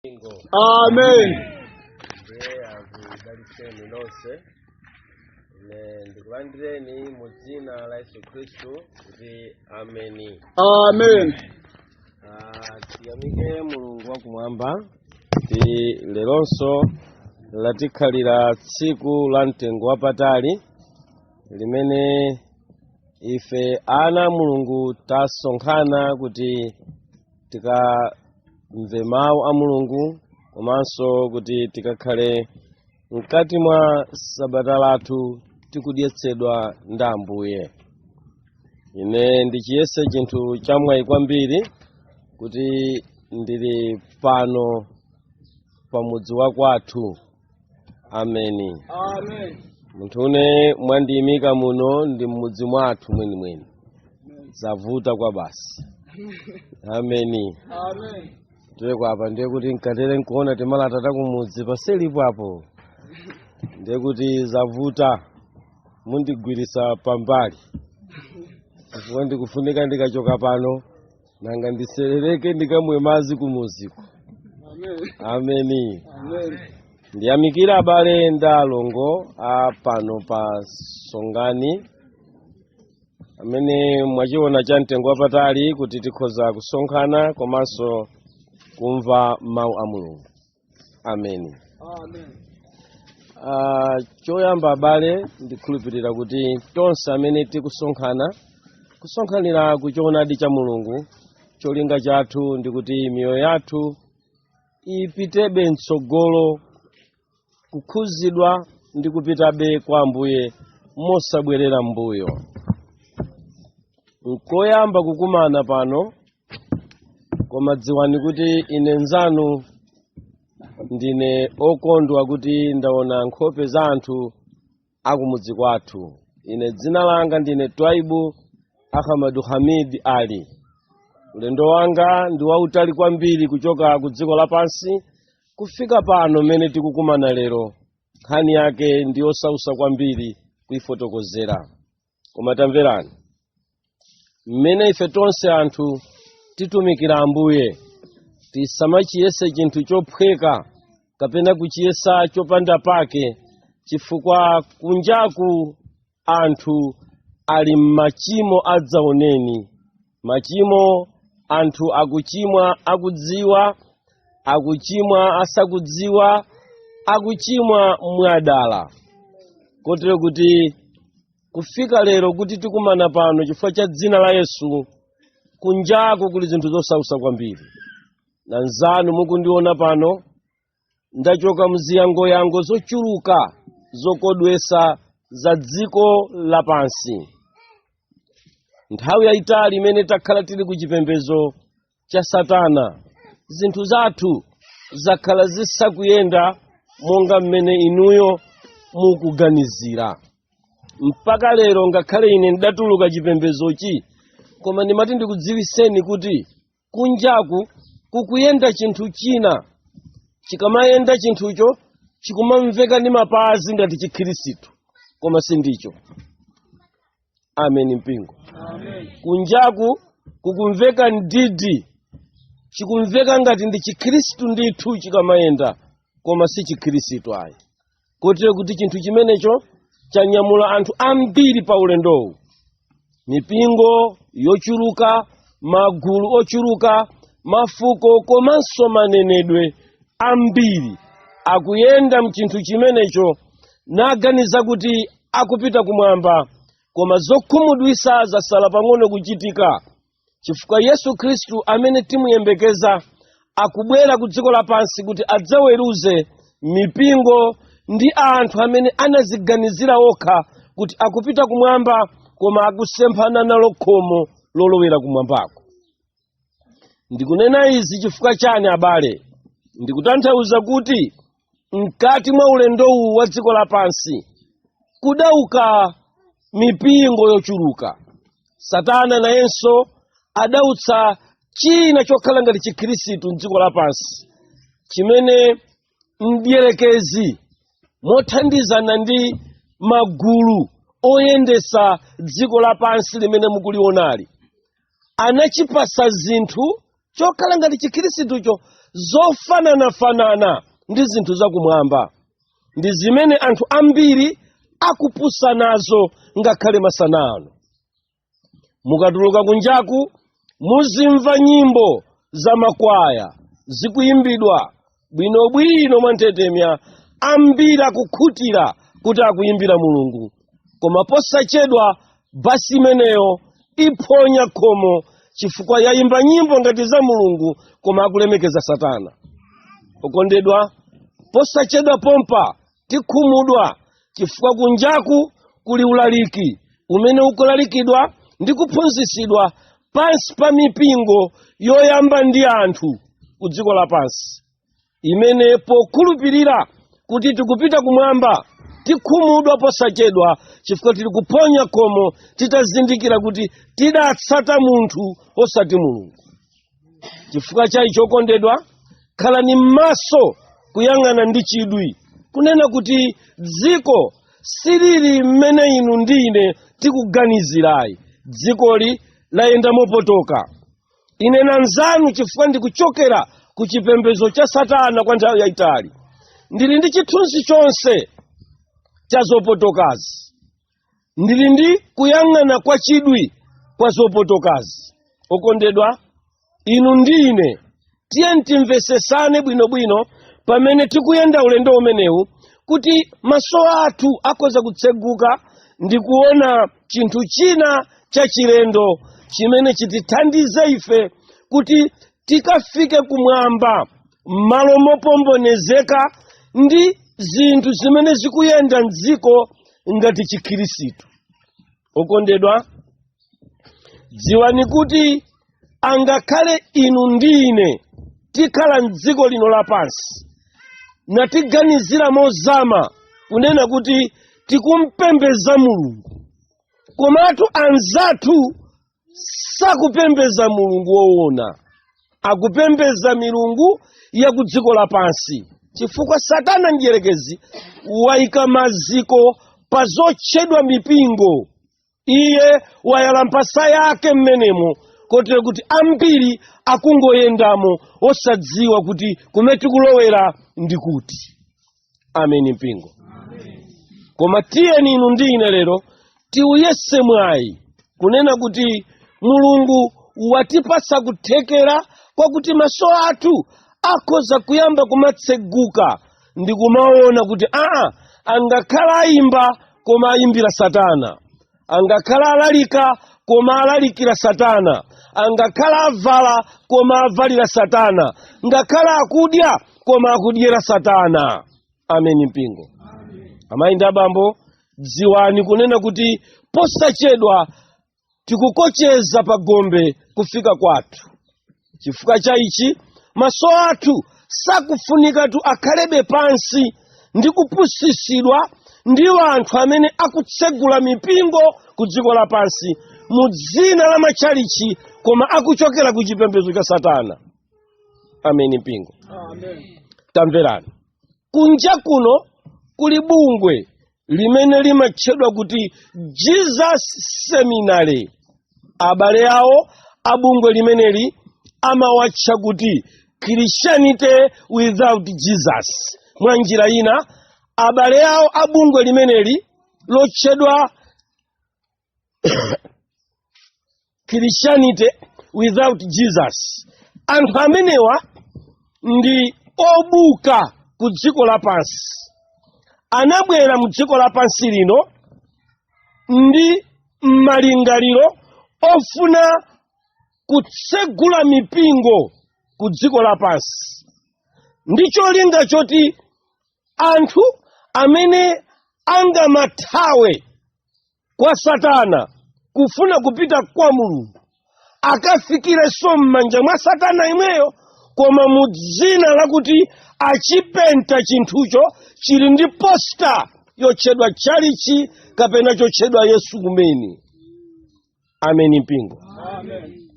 mpingo amen ndiye akudalitseni nonse ine ndikulandireni mu dzina la yesu khristu kuti ameni Amen Ah, tiyamike mulungu wakumwamba kuti leronso latikhalira tsiku la mtengo wapatali limene ife ana a mulungu tasonkhana kuti tikamve mawu a mulungu komanso kuti tikakhale mkati mwa sabata lathu tikudyetsedwa ndi ambuye ine ndichiyese chinthu chamwayi kwambiri kuti ndili pano pamudzi wa kwathu ameni Amen. munthune mwandiyimika muno ndi mmudzi mwathu mwenimweni zavuta kwa basi ameni Amen. ndiye kwapa ndiye kuti mukatere nkuona timalata ta kumudzi paseripo apo ndiye kuti zavuta mundigwirisa pambali chifukwa ndikufunika ndikachoka pano nanga ndiserereke ndikamwe madzi kumudziko ameni ndiyamikire abale ndi alongo a pano pa Songani amene mwachiona cha mtengo wapatali kuti tikhoza kusonkhana komanso kumva mawu a mulungu ameni Ah, choyamba abale ndikhulupirira kuti tonse amene tikusonkhana kusonkhanira ku choonadi cha mulungu cholinga chathu ndi kuti miyoyo yathu ipitebe mtsogolo kukhudzidwa ndi kupitabe kwa ambuye mosabwerera m'mbuyo nkoyamba kukumana pano koma dziwani kuti ine nzanu ndine okondwa kuti ndaona nkhope za anthu akumudzi kwathu ine dzina langa ndine Twaibu Ahamadu Hamid Ali ulendo wanga ndi wautali kwambiri kuchoka ku dziko lapansi kufika pano mene tikukumana lero nkhani yake ndi yosausa kwambiri kuifotokozera koma tamverani mmene ife tonse anthu titumikira ambuye tisamachiyese chinthu chophweka kapena kuchiyesa chopanda pake chifukwa kunjaku anthu ali m'machimo adzaoneni machimo anthu akuchimwa akudziwa akuchimwa asakudziwa akuchimwa mwadala kotero kuti kufika lero kuti tikumana pano chifukwa cha dzina la yesu kunjaku kuli zinthu zosausa kwambiri nanzanu mukundiona pano ndachoka mziyangoyango zochuluka zokodwesa za dziko lapansi nthawi yayitali imene takhala tili ku chipembedzo cha satana zinthu zathu zakhala zisakuyenda monga mmene inuyo mukuganizira mpaka lero ngakhale ine ndidatuluka chipembedzochi koma ndimati ndikudziwiseni kuti kunjaku kukuyenda chinthu china chikamayenda chinthucho chikumamveka ndi mapazi ngati chikhirisitu koma sindicho amen mpingo kunjaku kukumveka mdidi chikumveka ngati ndi chikhirisitu ndithu chikamayenda koma si chikhirisitu ayi kotero kuti chinthu chimenecho chanyamula anthu ambiri pa ulendowu mipingo yochuluka magulu ochuluka mafuko komanso manenedwe ambiri akuyenda mchinthu chimenecho naganiza kuti akupita kumwamba koma zokhumudwisa zasala pang'ono kuchitika chifukwa yesu khristu amene timuyembekeza akubwera ku dziko lapansi kuti adzaweruze mipingo ndi anthu amene anaziganizira okha kuti akupita kumwamba koma akusemphana nalo khomo lolowera kumwambako ndikunena izi chifukwa chani abale ndikutanthauza kuti mkati mwa ulendowu wa dziko lapansi kudauka mipingo yochuluka satana nayenso adautsa china chokhala ngati chikhristu mdziko lapansi chimene mdierekezi mothandizana ndi magulu oyendesa dziko lapansi limene mukulionali anachipasa zinthu chokhala ngati chikhristucho zofananafanana ndi zinthu zakumwamba ndi zimene anthu ambiri akupusa nazo ngakhale masana ano mukatuluka kunjaku muzimva nyimbo za makwaya zikuyimbidwa bwinobwino mwanthetemya ambiri akukhutira kuti akuyimbira mulungu koma posachedwa basi imeneyo iphonya khomo chifukwa yayimba nyimbo ngati za mulungu koma akulemekeza satana okondedwa posachedwa pompa tikhumudwa chifukwa kunjaku kuli ulaliki umene ukulalikidwa ndi kuphunzitsidwa pansi pa mipingo yoyambidwa ndi anthu ku dziko lapansi imene pokhulupirira kuti tikupita kumwamba tikhumudwa posachedwa chifukwa tili kuphonya khomo titazindikira kuti tidatsata munthu osati mulungu chifukwa chaicho okondedwa khalani m'maso kuyang'ana ndi chidwi kunena kuti dziko silili mmene inu ndi ine tikuganizirayi dzikoli layenda mopotoka ine nanzanu chifukwa ndikuchokera ku chipembedzo cha satana kwa nthawi yayitali ndili ndi chithunzi chonse cha zopotokazi ndili ndi kuyang'ana kwa chidwi kwa zopotokazi okondedwa inu ndi ine tiyeni timvesesane bwinobwino pamene tikuyenda ulendo umenewu kuti maso athu akhoza kutseguka ndi kuona chinthu china cha chilendo chimene chitithandize ife kuti tikafike kumwamba m'malo mopombonezeka ndi zinthu zimene zikuyenda mdziko ngati chikhirisitu okondedwa dziwani kuti angakhale inu ndi ine tikhala mdziko lino lapansi natiganizira mozama kunena kuti tikumpembeza mulungu komatu anzathu sakupembeza mulungu woona akupembeza milungu ya ku dziko lapansi chifukwa satana mdyerekezi waika maziko pa zotchedwa mipingo iye wayala mphasa yake mmenemo kotero kuti ambiri akungoyendamo osadziwa kuti kumene tikulowera ndi kuti ameni mpingo koma tiyeni inu ndi ine lero tiuyese mwayi kunena kuti mulungu watipasa kuthekera kwakuti maso athu akhoza kuyamba kumatseguka ndi kumaona kuti aa angakhala ayimba koma ayimbira satana angakhala alalika koma alalikira satana angakhala avala koma avalira satana ngakhala akudya koma akudyera satana ameni mpingo amayi ndi abambo dziwani kunena kuti posachedwa tikukocheza pa gombe kufika kwathu chifukwa cha ichi maso athu sakufunikatu akhalebe pansi ndi kupusitsidwa ndi anthu amene akutsegula mipingo ku dziko lapansi mu dzina la matchalichi koma akuchokera ku chipembedzo cha satana ameni mpingo tamverani kunja kuno kuli bungwe limene limatchedwa kuti jesus seminary abale awo a bungwe limeneli amawatcha kuti christianity without jesus mwa njira ina abale awo a bungwe limeneli lotchedwa christianity without jesus anthu amenewa ndi obuka ku dziko lapansi anabwera mu dziko lapansi lino ndi malingaliro ofuna kutsegula mipingo ku dziko lapansi ndi cholinga choti anthu amene angamathawe kwa satana kufuna kupita kwa mulungu akafikirenso m'manja mwa satana yemweyo koma mu dzina lakuti achipenta chinthucho chili ndi posta yotchedwa tchalichi kapena chotchedwa yesu kumene ameni mpingo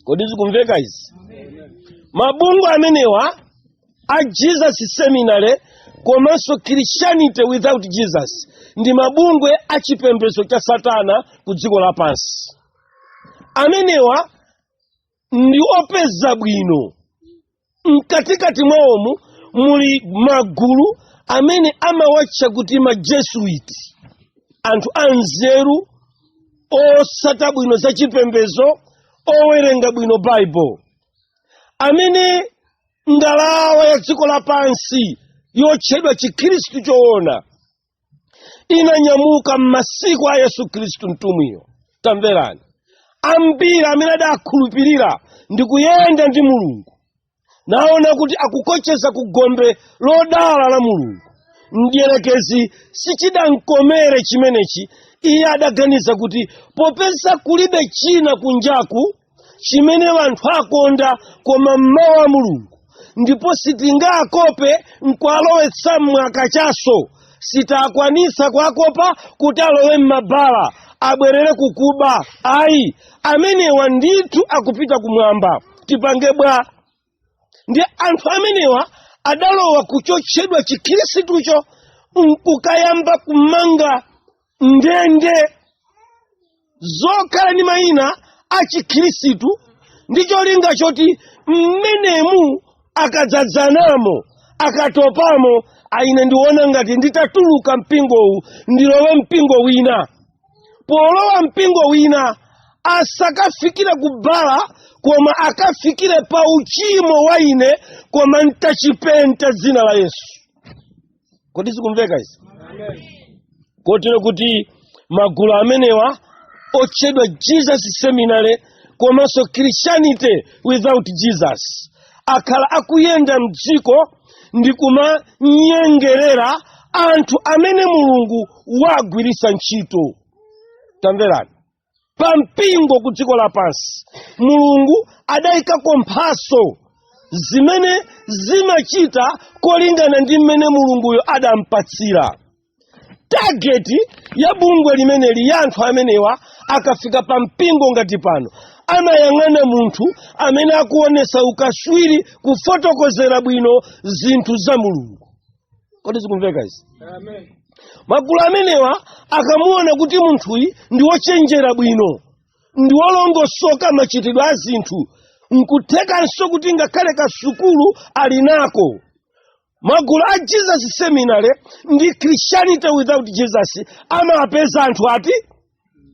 kodi zikumveka izi mabungwe amenewa a jesus seminary komanso christianity without jesus ndi mabungwe a chipembedzo cha satana ku dziko lapansi amenewa ndi opeza bwino mkatikati mwawomu muli magulu amene amawatcha kuti majesuit anthu anzeru otsata bwino za chipembedzo owerenga bwino baibulo amene ngalawa ya dziko lapansi yotchedwa chikhristu choona inanyamuka m'masiku a yesu khristu mtumwiyo tamverani ambiri amene adakhulupirira ndi kuyenda ndi mulungu naona kuti akukocheza ku gombe lodala la mulungu mdierekezi sichidamkomere chimenechi iye adaganiza kuti popeza kulibe china kunjaku chimene anthu akonda koma mawu a mulungu ndipo sitingawakope nkuwalowetsa mwa kachasu sitikwanitsa kuwakopa kuti alowe mmabala abwerere kukuba ayi amenewa ndithu akupita kumwamba tipange bwa ndi anthu amenewa adalowa kuchotchedwa chikhristucho nkukayamba kumanga ndende zokhala ndi mayina a chikhristu ndi cholinga choti mmenemu akadzadzanamo akatopamo aa ine ndiona ngati nditatuluka mpingowu ndilowe mpingo wina polowa mpingo wina asakafikire kubala koma akafikire pa uchimo wa ine koma ntachipenta dzina la yesu kodi zikumveka izi kotero kuti magulu amenewa otchedwa Jesus Seminar komanso christianity without jesus akhala akuyenda mdziko ndi kumanyengerera anthu amene mulungu wagwiritsa ntchito tamverani pa mpingo ku dziko lapansi mulungu adayikako mphatso zimene zimachita kolingana ndi mmene mulunguyo adampatsira target ya bungwe limeneli ya anthu amenewa akafika pa mpingo ngati pano amayang'ana munthu amene akuonesa ukaswiri kufotokozera bwino zinthu za mulungu kodi zikumveka izi magulu amenewa akamuona kuti munthuyi ndi wochenjera bwino ndi wolongosoka machitidwe a zinthu nkuthekanso kuti ngakhale kasukulu ali nako magulu a jesus seminar ndi christianity without jesus amapeza anthu ngati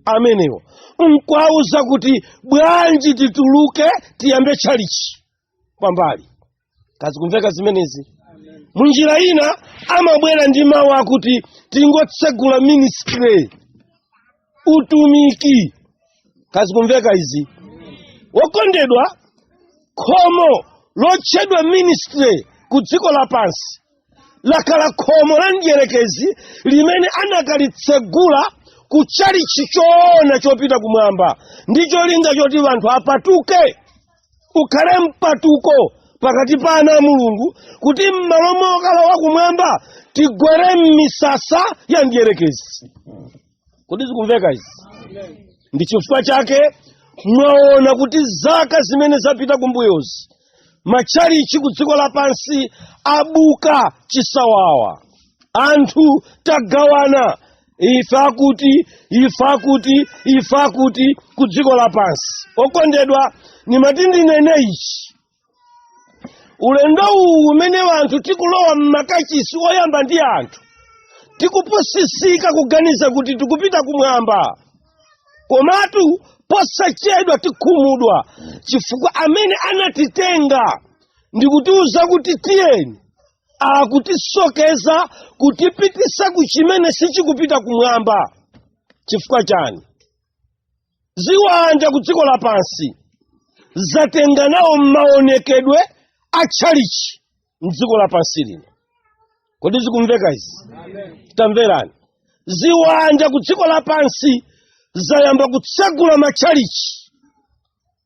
amenewo nkuwauza kuti bwanji tituluke tiyambe tchalichi pambali kodi zikumveka zimenezi munjira ina amabwera ndi mawu akuti tingotsegula ministry utumiki kodi zikumveka izi wokondedwa khomo lotchedwa ministry ku dziko lapansi lakhala khomo la mdierekezi limene anakalitsegula ku chalichi choona chopita kumwamba ndi cholinga choti anthu apatuke ukhale mpatuko pakati pa ana a mulungu kuti m'malo mokalowa kumwamba tigwere m'misasa ya mdierekezi kodi zikumveka izi ndi chifukwa chake mwaona kuti zaka zimene zapita kumbuyozi matchalichi ku dziko lapansi abuka chisawawa anthu tagawana ife akuti ife akuti ife akuti ku dziko lapansi okondedwa ndimati ndinene ichi ulendo uwu umene anthu tikulowa m'makachisi oyamba ndi anthu tikupusisika kuganiza kuti tikupita kumwamba komatu posachedwa tikhumudwa chifukwa amene anatitenga ndi kutiuza kuti tiyeni akutisokeza kutipitisa ku chimene sichikupita kumwamba chifukwa chani ziwanda ku dziko lapansi zatenga nawo maonekedwe a tchalichi mdziko lapansi lino kodi zikumveka izi tamverani ziwanda ku dziko lapansi zayamba kutsegula matchalichi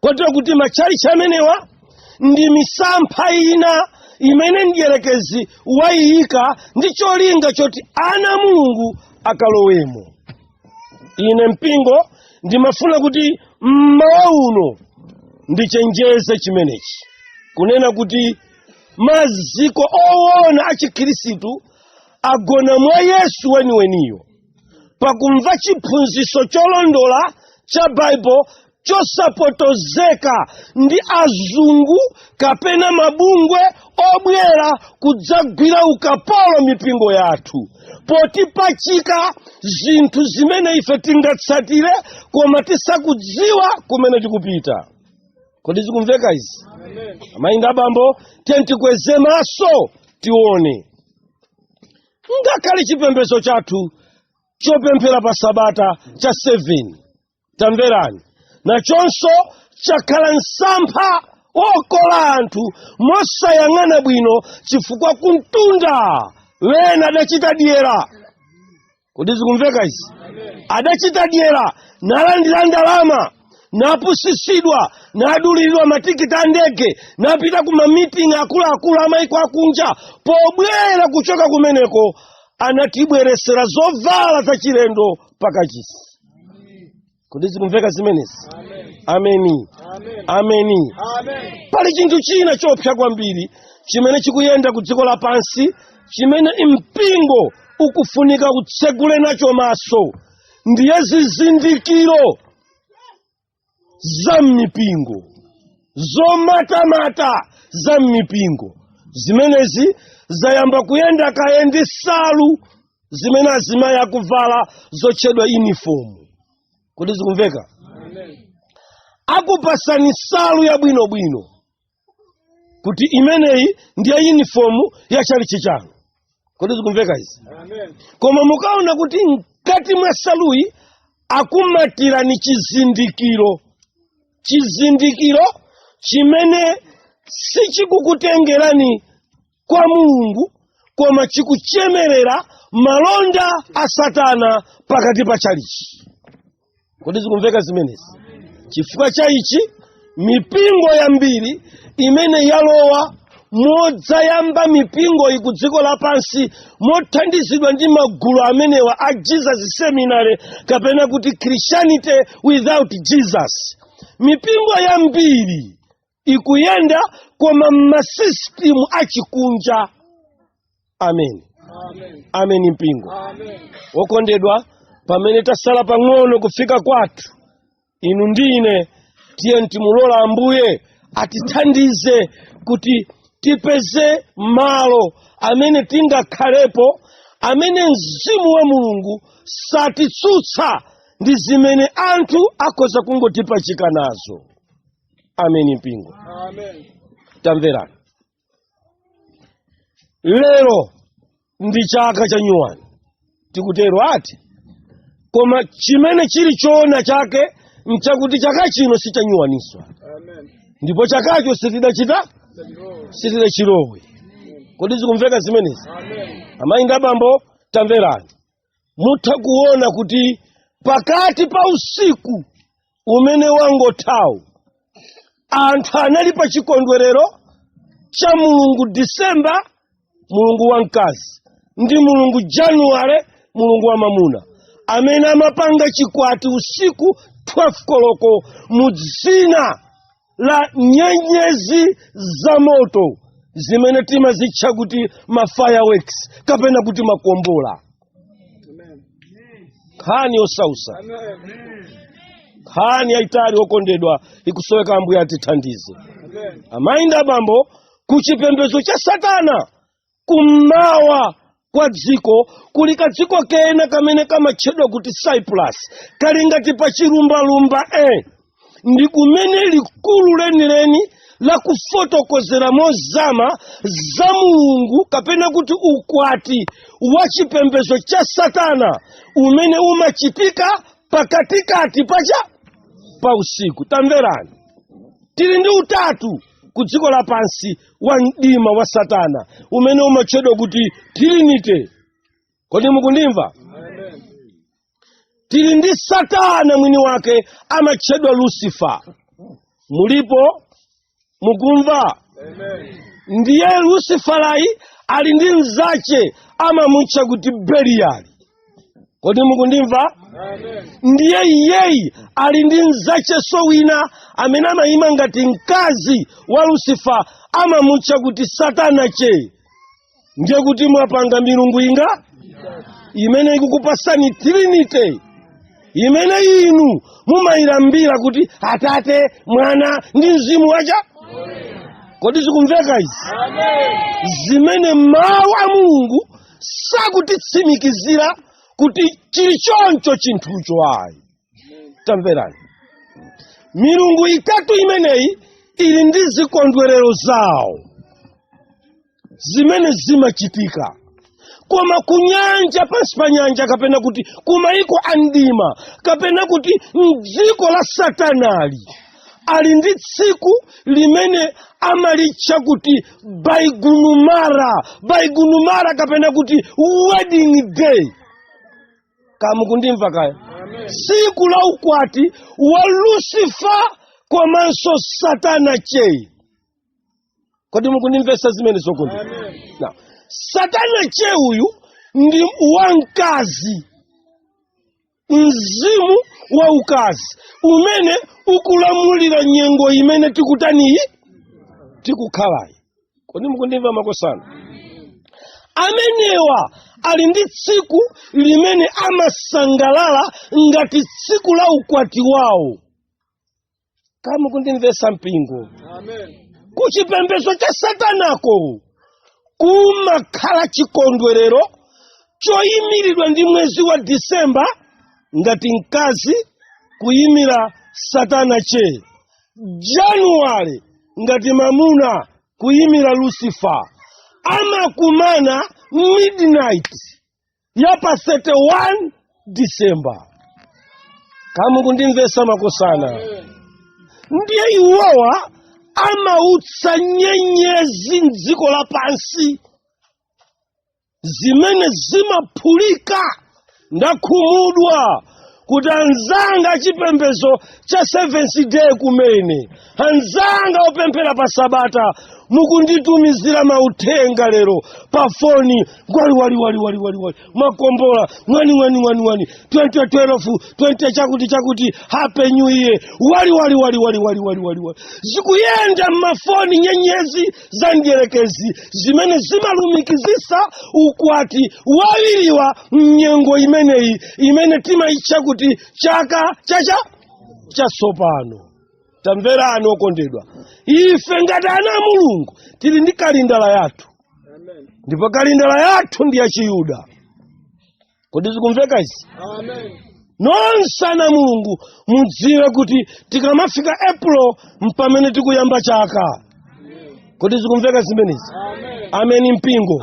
kotero kuti matchalitchi amenewa ndi misampha ina imene mdierekezi wayiyika ndi cholinga choti ana a mulungu akalowemo ine mpingo ndimafuna kuti mmawa uno ndichenjeze chimenechi kunena kuti maziko owona a chikhristu agona mwa yesu weniweniyo pakumva chiphunzitso cholondola cha baibulo chosapotozeka ndi azungu kapena mabungwe obwera kudzagwira ukapolo mipingo yathu potipachika zinthu zimene ife tingatsatire koma tisakudziwa kumene tikupita kodi zikumveka izi amayi ndi abambo tiyeni tikweze maso tione ngakhale chipembedzo chathu chopemphera pa sabata cha 7 tamverani nachonso chakhala msampha wokola anthu mosayang'ana bwino chifukwa kumtunda wena adachita dyera kodi zikumveka izi adachita dyera nalandira ndalama napusisidwa naduliridwa matikiti a ndege napita ku mamiting akuluakulu amaiko akunja pobwera kuchoka kumeneko anatibweresera zovala zachilendo pakachisi kodi zikumveka zimenezi ameni ameni pali chinthu china chopsa kwambiri chimene chikuyenda ku dziko lapansi chimene mpingo ukufunika utsegule nacho maso ndiye zizindikiro za m'mipingo zomatamata za m'mipingo zimenezi zayamba kuyenda kaye ndi nsalu zimene azimayi akuvala zotchedwa yunifomu kodi zikumveka akupasani nsalu yabwinobwino kuti imeneyi ndiye yunifomu ya chalichi chanu kodi zikumveka izi koma mukaona kuti mkati mwa saluyi akumatirani chizindikiro chizindikiro chimene sichikukutengerani kwa mulungu koma chikuchemerera malonda a satana pakati pa chalichi kodi zikumveka zimenezi chifukwa cha ichi mipingo yambiri imene yalowa modzayamba mipingoyi ku dziko lapansi mothandizidwa ndi magulu amenewa a jesus seminary kapena kuti christianity without jesus mipingo yambiri ikuyenda koma mmasistimu achikunja ameni amen mpingo wokondedwa pamene tasala pang'ono kufika kwathu inu ndi ine tiyeni timulola ambuye atithandize kuti tipeze malo amene tingakhalepo amene mzimu wa mulungu satitsutsa ndi zimene anthu akhoza kungotipachika nazo amen mpingo tamverani lero ndi chaka cha nyuwani tikutero eti koma chimene chili choona chake nchakuti chaka chino si cha nyuwaninso ndipo chakacho sitidachita sitidachilowe kodi zikumveka zimenezi amayi ndi abambo tamverani mutha kuona kuti pakati pa usiku umene wangothawu anthu anali pa chikondwerero cha mulungu disemba mulungu wamkazi ndi mulungu januwale mulungu wamamuna amene amapanga chikwati usiku 12 koloko mu dzina la nyenyezi za moto zimene timazitcha kuti ma fireworks kapena kuti makombola nkhani yosautsa nkhani yayitali okondedwa ikusoweka ambuye atithandize amayi ndi abambo ku chipembedzo cha satana kummawa kwa dziko kuli kadziko kena kamene kamatchedwa kuti cyprus kali ngati pa chilumbalumba e ndi kumene likulu lenileni lakufotokozera mozama za mulungu kapena kuti ukwati wa chipembedzo cha satana umene umachitika pakatikati pacha pa usiku tamverani tili ndi utatu ku dziko lapansi wa mdima wa satana umene umatchedwa kuti trinity kodi mukundimva tili ndi satana mwini wake amatchedwa lucifer mulipo mukumva ndiye luciferayi ali ndi mzache amamutcha kuti beliyali kodi mukundimva ndiye iyeyi ali ndi mzacheso wina amene amayima ngati mkazi wa lusifa amamutcha kuti satana che ndiye kuti mwapanga milungu inga imene ikukupasani trinity imene inu mumayilambira kuti atate mwana ndi mzimu wacha kodi zikumveka izi zimene mawu a mulungu sakutitsimikizira kuti chili choncho chinthucho ayi tamverani milungu itatu imeneyi ili ndi zikondwerero zawo zimene zimachitika koma kunyanja pansi pa nyanja kapena kuti kumaiko a mdima kapena kuti mdziko la satanali ali ndi tsiku limene amalitcha kuti baigunumara baigunumara kapena kuti wedding day ka mukundimva kaya tsiku la ukwati wa lusifa komanso satana chei kodi mukundimvesa zimene zokundi Now, satana che uyu ndi wamkazi mzimu wa ukazi umene ukulamulira nyengo imene tikutaniyi tikukhalayi kodi mukundimva makosana amenewa ali ndi tsiku limene amasangalala ngati tsiku la ukwati wawo ka mukundimvesa mpingo kuchipembedzo cha satanako kumakhala chikondwerero choyimiridwa ndi mwezi wa disemba ngati mkazi kuyimira satana che januwale ngati mamuna kuyimira lucifer amakumana midnight ya pa 31 disemba ka mukundimvesa makosana ndiye iwowa amautsa nyenyezi mdziko lapansi zimene zimaphulika ndakhumudwa kuti anzanga achipembezo cha seventh day kumene anzanga opemphera pa sabata mukunditumizira mauthenga lero pa foni ngwaliwaliwaliwaliwaliwali mwakombola ng'wani ng'wani ng'wani ng'wani 2012 20 chakuti chakuti hape new year waliwaliwaliwaliwaliwaliwali zikuyenda mmafoni nyenyezi za mdyerekezi zimene zimalumikizisa ukwati wa awiriwa mnyengo imeneyi imene timayitcha kuti chaka chacha chasopano tamverani okondedwa ife ngati ana a mulungu tili ndi kalindala yathu ndipo kalindala yathu ndi yachiyuda kodi zikumveka izi nonse ana mulungu mudziwe kuti tikamafika april mpamene tikuyamba chaka kodi zikumveka zimenezi ameni mpingo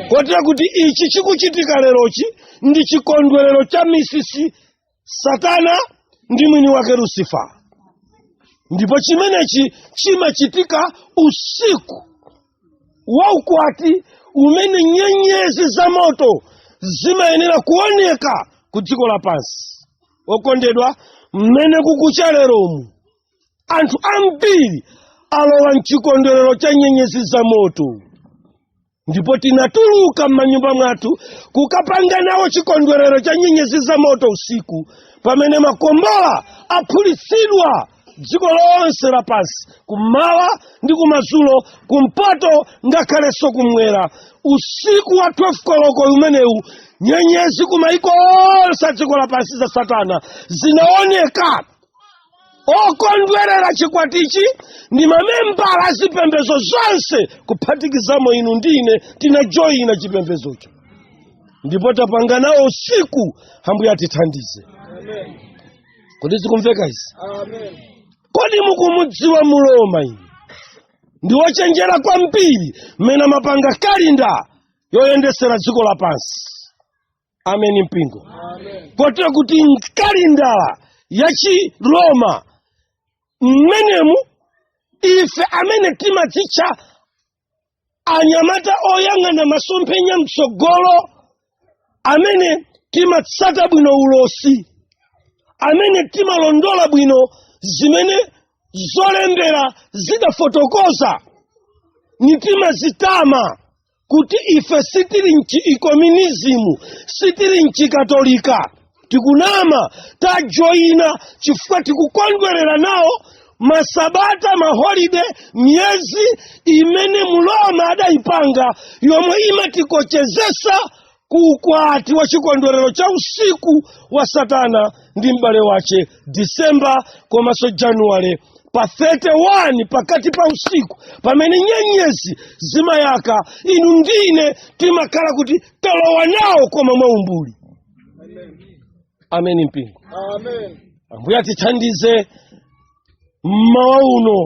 kotera kuti ichi chikuchitika lerochi ndi chikondwerero cha misisi satana ndi mwini wake lusifa ndipo chimenechi chimachitika usiku wa ukwati umene nyenyezi za moto zimayenera kuoneka ku dziko lapansi okondedwa mmene kukucha leromu anthu ambiri alowa mchikondwerero cha nyenyezi za moto ndipo tinatuluka m'manyumba mwathu kukapanga nawo chikondwerero cha nyenyezi za moto usiku pamene makombola aphulitsidwa dziko lonse lapansi kummawa ndi kumadzulo kumpoto ngakhalenso kumwera usiku wa 12 koloko umenewu nyenyezi kumaiko onse a dziko lapansi za satana zinaoneka okondwerera chikwatichi ndi mamembala a zipembedzo zonse kuphatikizamo inu ndi ine tinajoyina chipembedzocho ndipo tapanga nawo usiku ambuye atithandize kodi zikumveka izi kodi mukumudziwa mroma inu ndi wochenjera kwambiri mmene amapanga kalindala yoyendesera dziko lapansi ameni mpingo kotera kuti mkalindala ya chiroma mmenemu ife amene timadzitcha anyamata oyang'ana masomphenya mtsogolo amene timatsata bwino ulosi amene timalondola bwino zimene zolembera zidafotokoza nitimazitama kuti ife sitili m'chikomyunizimu sitili m'chikatolika tikunama tajoyina chifukwa tikukondwerera nawo masabata maholide miyezi imene mroma adayipanga yomwe imatikochezetsa ku ukwati wa chikondwerero cha usiku wa satana ndi m'bale wace disemba komanso januwale pa 31 pakati pa usiku pamene nyenyezi zimayaka inu ndi ine timakhala kuti talowa nawo koma mwaumbuli ameni mpingo Amen. ambuye atithandize mmawa uno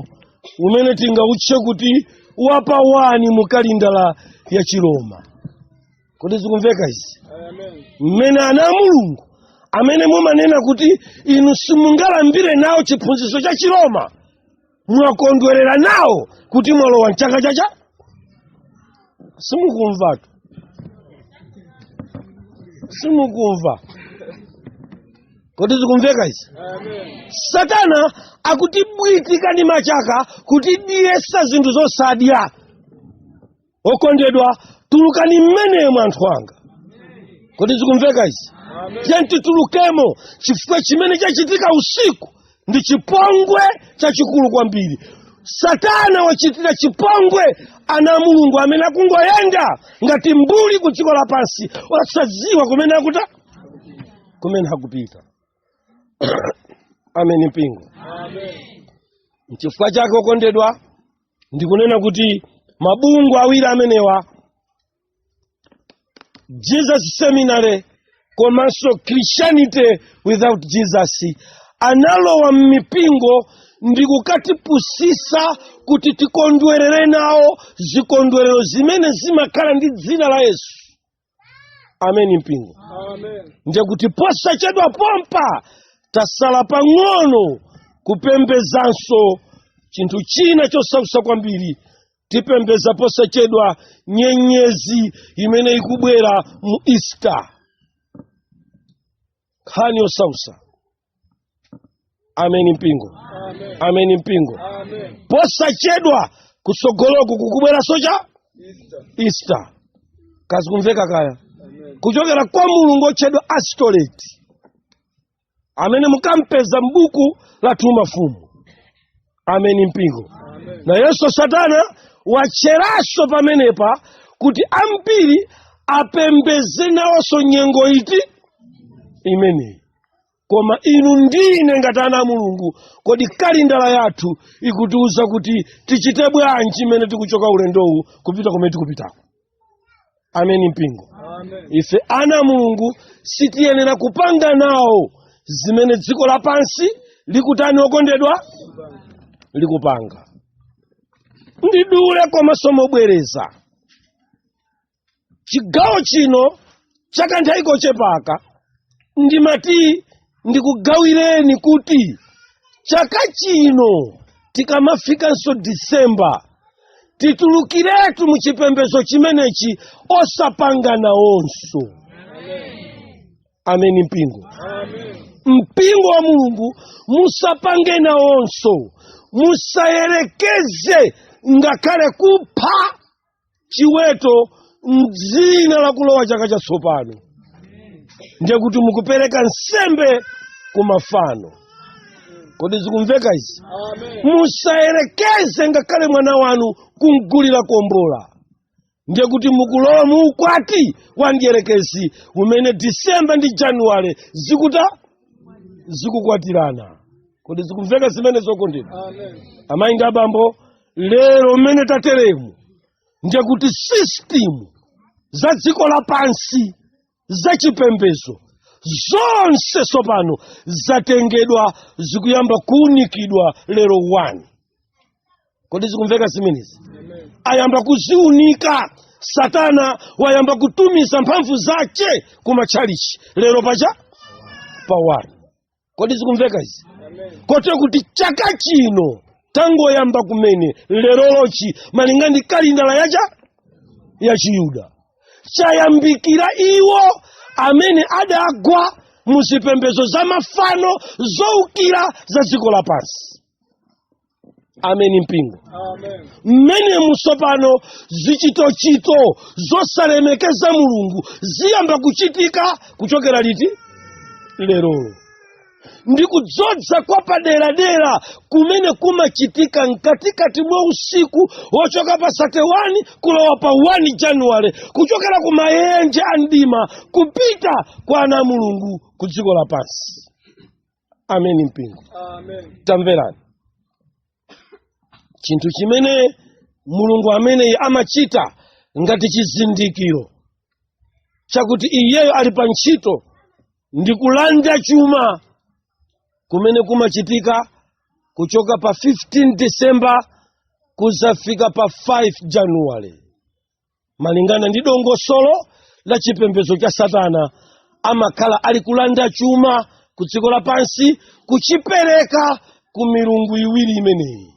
umene tingautche kuti wapawani mu kalindala ya chiroma kodi zikumveka izi mmene ana a mulungu amene mumanena kuti inu simungalambire nawo chiphunzitso cha chiroma mwakondwerera nawo kuti mwalowa mchaka chacha simukumvatu simukumva kodi zikumveka izi satana akutibwitika m'machaka kutidyetsa zinthu zosadya okondedwa tulukani mmenemo anthu anga kodi zikumveka izi tiyeni titulukemo chifukwa chimene chachitika usiku ndi chipongwe chachikulu kwambiri satana wachitira chipongwe ana a mulungu amene akungoyenda ngati mbuli ku dziko lapansi osadziwa kumene akuta kumene akupita ameni mpingo nchifukwa chake okondedwa ndikunena kuti mabungwe awiri amenewa jesus seminary komanso christianity without jesus analowa m'mipingo ndi kukatipusitsa kuti tikondwerere nawo zikondwerero zimene zimakhala ndi dzina la yesu ameni mpingo ndiye kuti posachedwa pompa tasala pang'ono kupembezanso chinthu china chosausa kwambiri tipembeza posachedwa nyenyezi imene ikubwera mu easter nkhani yosausa ameni mpingo ameni mpingo posachedwa kutsogoloku kukubweranso cha easter ka zikumveka kaya kuchokera kwa mulungu otchedwa astoreti amene mukampeza m'buku lathu la mafumu ameni mpingo nayenso satana watcheranso pamenepa kuti ambiri apembeze nawonso nyengo iti imeneyi koma inu ndi ine ngati ana a mulungu kodi kalindala yathu ikutiuza kuti tichite bwanji imene tikuchoka ulendowu kupita kumene tikupitako ameni mpingo ife ana a mulungu sitiyenera kupanga nawo zimene dziko lapansi likutani okondedwa likupanga mwachidule komanso mobwereza chigawo chino chakanthawi kochepaka ndimati ndikugawireni kuti chaka chino tikamafikanso disemba titulukiretu mu chipembedzo chimenechi osapanga nawonso ameni mpingo mpingo wa mulungu musapange nawonso musayerekeze ngakhale kupha chiweto mdzina la kulowa chaka chatsopano ndiye kuti mukupereka nsembe ku mafano kodi zikumveka izi musayerekeze ngakhale mwana wanu kumgulira kombola ndiye kuti mukulowa mu ukwati wa mdierekezi umene disemba ndi januwale zikuta zikukwatirana kodi zikumveka zimenezi okondedwa amayi ndi abambo lero mmene tateremu ndiye kuti sistimu za dziko lapansi za chipembedzo zonse tsopano zatengedwa zikuyamba kuunikidwa lero 1 kodi zikumveka zimenezi ayamba kuziunika satana wayamba kutumiza mphamvu zake kumatchalichi lero pacha pawani kodi zikumveka izi kotero kuti chaka chino tangoyamba kumene lerolochi malinga ndi kalendala yacha ya chiyuda chayambikira iwo amene adagwa mu zipembedzo za mafano zoukira za dziko lapansi ameni mpingo mmenemu tsopano zichitochito zosalemekeza mulungu ziyamba kuchitika kuchokera liti lerolo ndi kudzodza kwa paderadera kumene kumachitika mkatikati mwa usiku wochoka pa 31 kulowa pa 1 januwale kuchokera ku maenje a mdima kupita kwa ana a mulungu ku dziko lapansi ameni mpingo tamverani chinthu chimene mulungu ameneyi amachita ngati chizindikiro chakuti iyeyo ali pa ntchito ndi kulanda chuma kumene kumachitika kuchoka pa 15 december kudzafika pa 5 januwale malingana ndi dongosolo la chipembedzo cha satana amakhala ali kulanda chuma ku dziko lapansi kuchipereka ku milungu iwiri imeneyi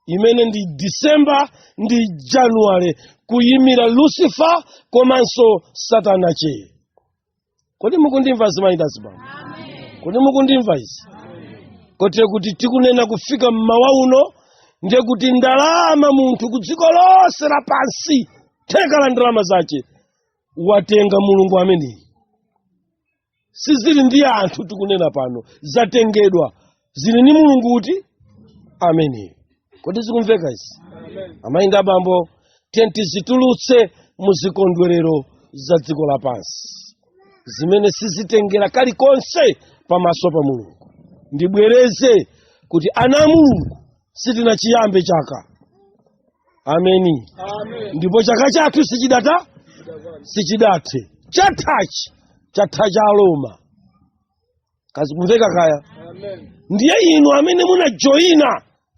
imene ndi disemba ndi januwale kuyimira lucifer komanso satana che kodi mukundimva azimayi ndi azibambo kodi mukundimva izi kotero kuti tikunena kufika mmawa uno ndiye kuti ndalama munthu ku dziko lonse lapansi theka la ndalama zace watenga mulungu ameneyi sizili ndi anthu tikunena pano zatengedwa zili ndi mulungu uti ameneyo kodi zikumveka izi amayi ndi abambo tiyeni tizitulutse mu zikondwerero za dziko lapansi zimene sizitengera kalikonse pamaso pa mulungu ndibwereze kuti ana a mulungu sitinachiyambe chaka ameni ndipo chaka chathu sichidathe sichidathe chathachi chatha cha Aroma kazikumveka kaya ndiye inu amene munajoyina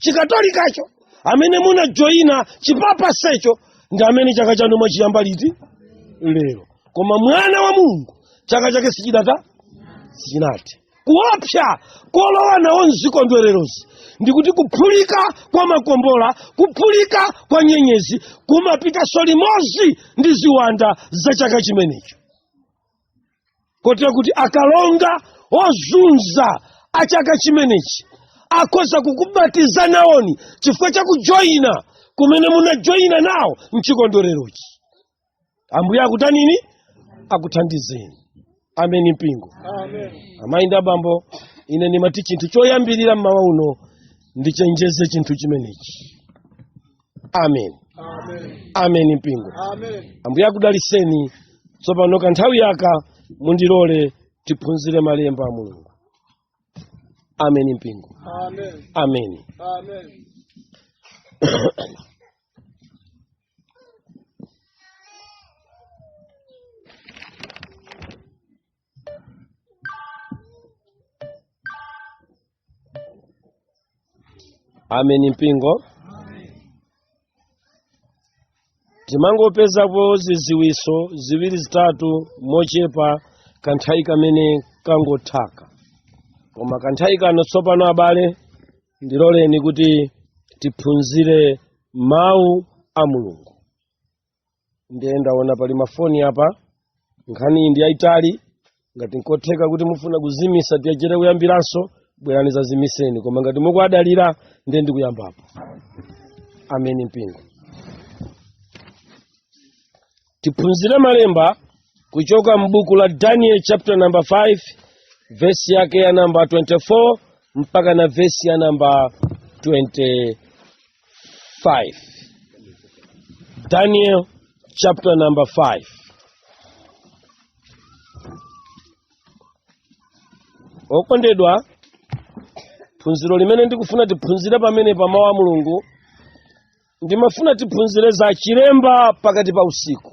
chikatolikacho amene munajoyina chipapasecho ndi amene chaka chanu mwachiyamba liti lero koma mwana wa mulungu chaka chake sichidathe sichinathe kuopsa kolowa nawo mzikondwererozi ndikuti kuphulika kwa makombola kuphulika kwa nyenyezi kumapitanso limodzi ndi ziwanda za chaka chimenecho kotero kuti akalonga ozunza a chaka chimenechi akhoza kukubatiza nawoni chifukwa cha kujoyina kumene munajoyina nawo mchikondwererochi ambuye akutanini akuthandizeni ameni mpingo amayi ndi abambo ine ndimati chinthu choyambirira mmawa uno ndichenjeze chinthu chimenechi amen amen mpingo ambuye akudaliseni tsopano kanthawi yaka mundilole tiphunzire malemba a mulungu amen mpingo amen ameni mpingo timangopezapo ziziwiso ziwiri zitatu mochepa kanthawi kamene kangothaka koma kanthawi kano tsopano abale ndiloleni kuti tiphunzire mawu a mulungu ndiye ndaona pali mafoni apa nkhani iyi ndi yayitali ngati nkotheka kuti mufuna kuzimisa tiyachere kuyambiranso bwerani zazimiseni koma ngati mukuadalira ndiye ndikuyambapo ameni mpingo tiphunzire malemba kuchoka m'buku la daniel chapter number 5 vesi yake ya namba 24 mpaka na vesi ya namba 25 daniel chapter number 5 okondedwa phunziro limene ndikufuna tiphunzire pamene pa mawu a mulungu ndimafuna tiphunzire za chilemba pakati pa usiku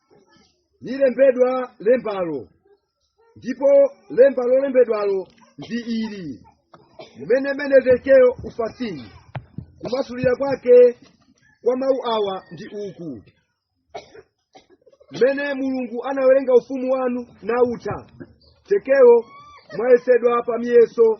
nilembedwa lembalo ndipo lemba lolembedwalo ndi ili mene mene tekelo ufasini kumasulira kwake kwa mawu awa ndi uku mene mulungu anawerenga ufumu wanu nautha tekelo mwayesedwa pa miyeso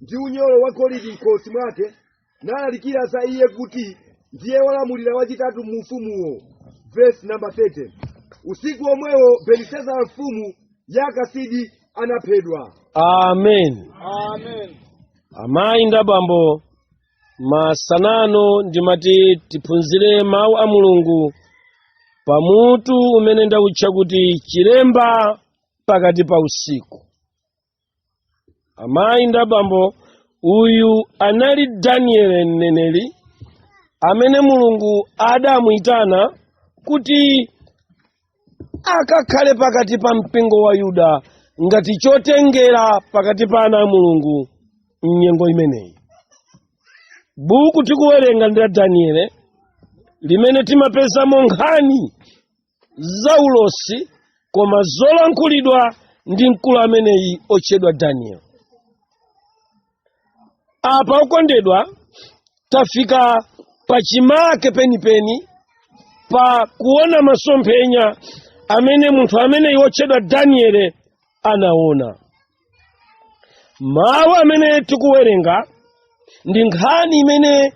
ndi unyolo wa golidi mkhosi mwake nalalikira za iye kuti ndiye wolamulira wachitatu mu ufumuwo vesi namba 30 usiku omwewo belisezara mfumu ya akasidi anaphedwa amen amen amayi ndi abambo masanano ndimati tiphunzire mawu a mulungu pa mutu umene ndawutcha kuti chilemba pakati pa usiku amayi ndi abambo uyu anali danieli mneneri amene mulungu adamuyitana kuti akakhale pakati pa mpingo wa yuda ngati chotengera pakati pa ana a mulungu m'nyengo imeneyi buku tikuwerenga ndi la danieli limene timapezamo nkhani za ulosi koma zolankhulidwa ndi mkulu ameneyi otchedwa danieli apa okondedwa tafika pachimake penipeni pa kuona masomphenya amene munthu ameneyi otchedwa danieli anaona mawu amene tikuwerenga ndi nkhani imene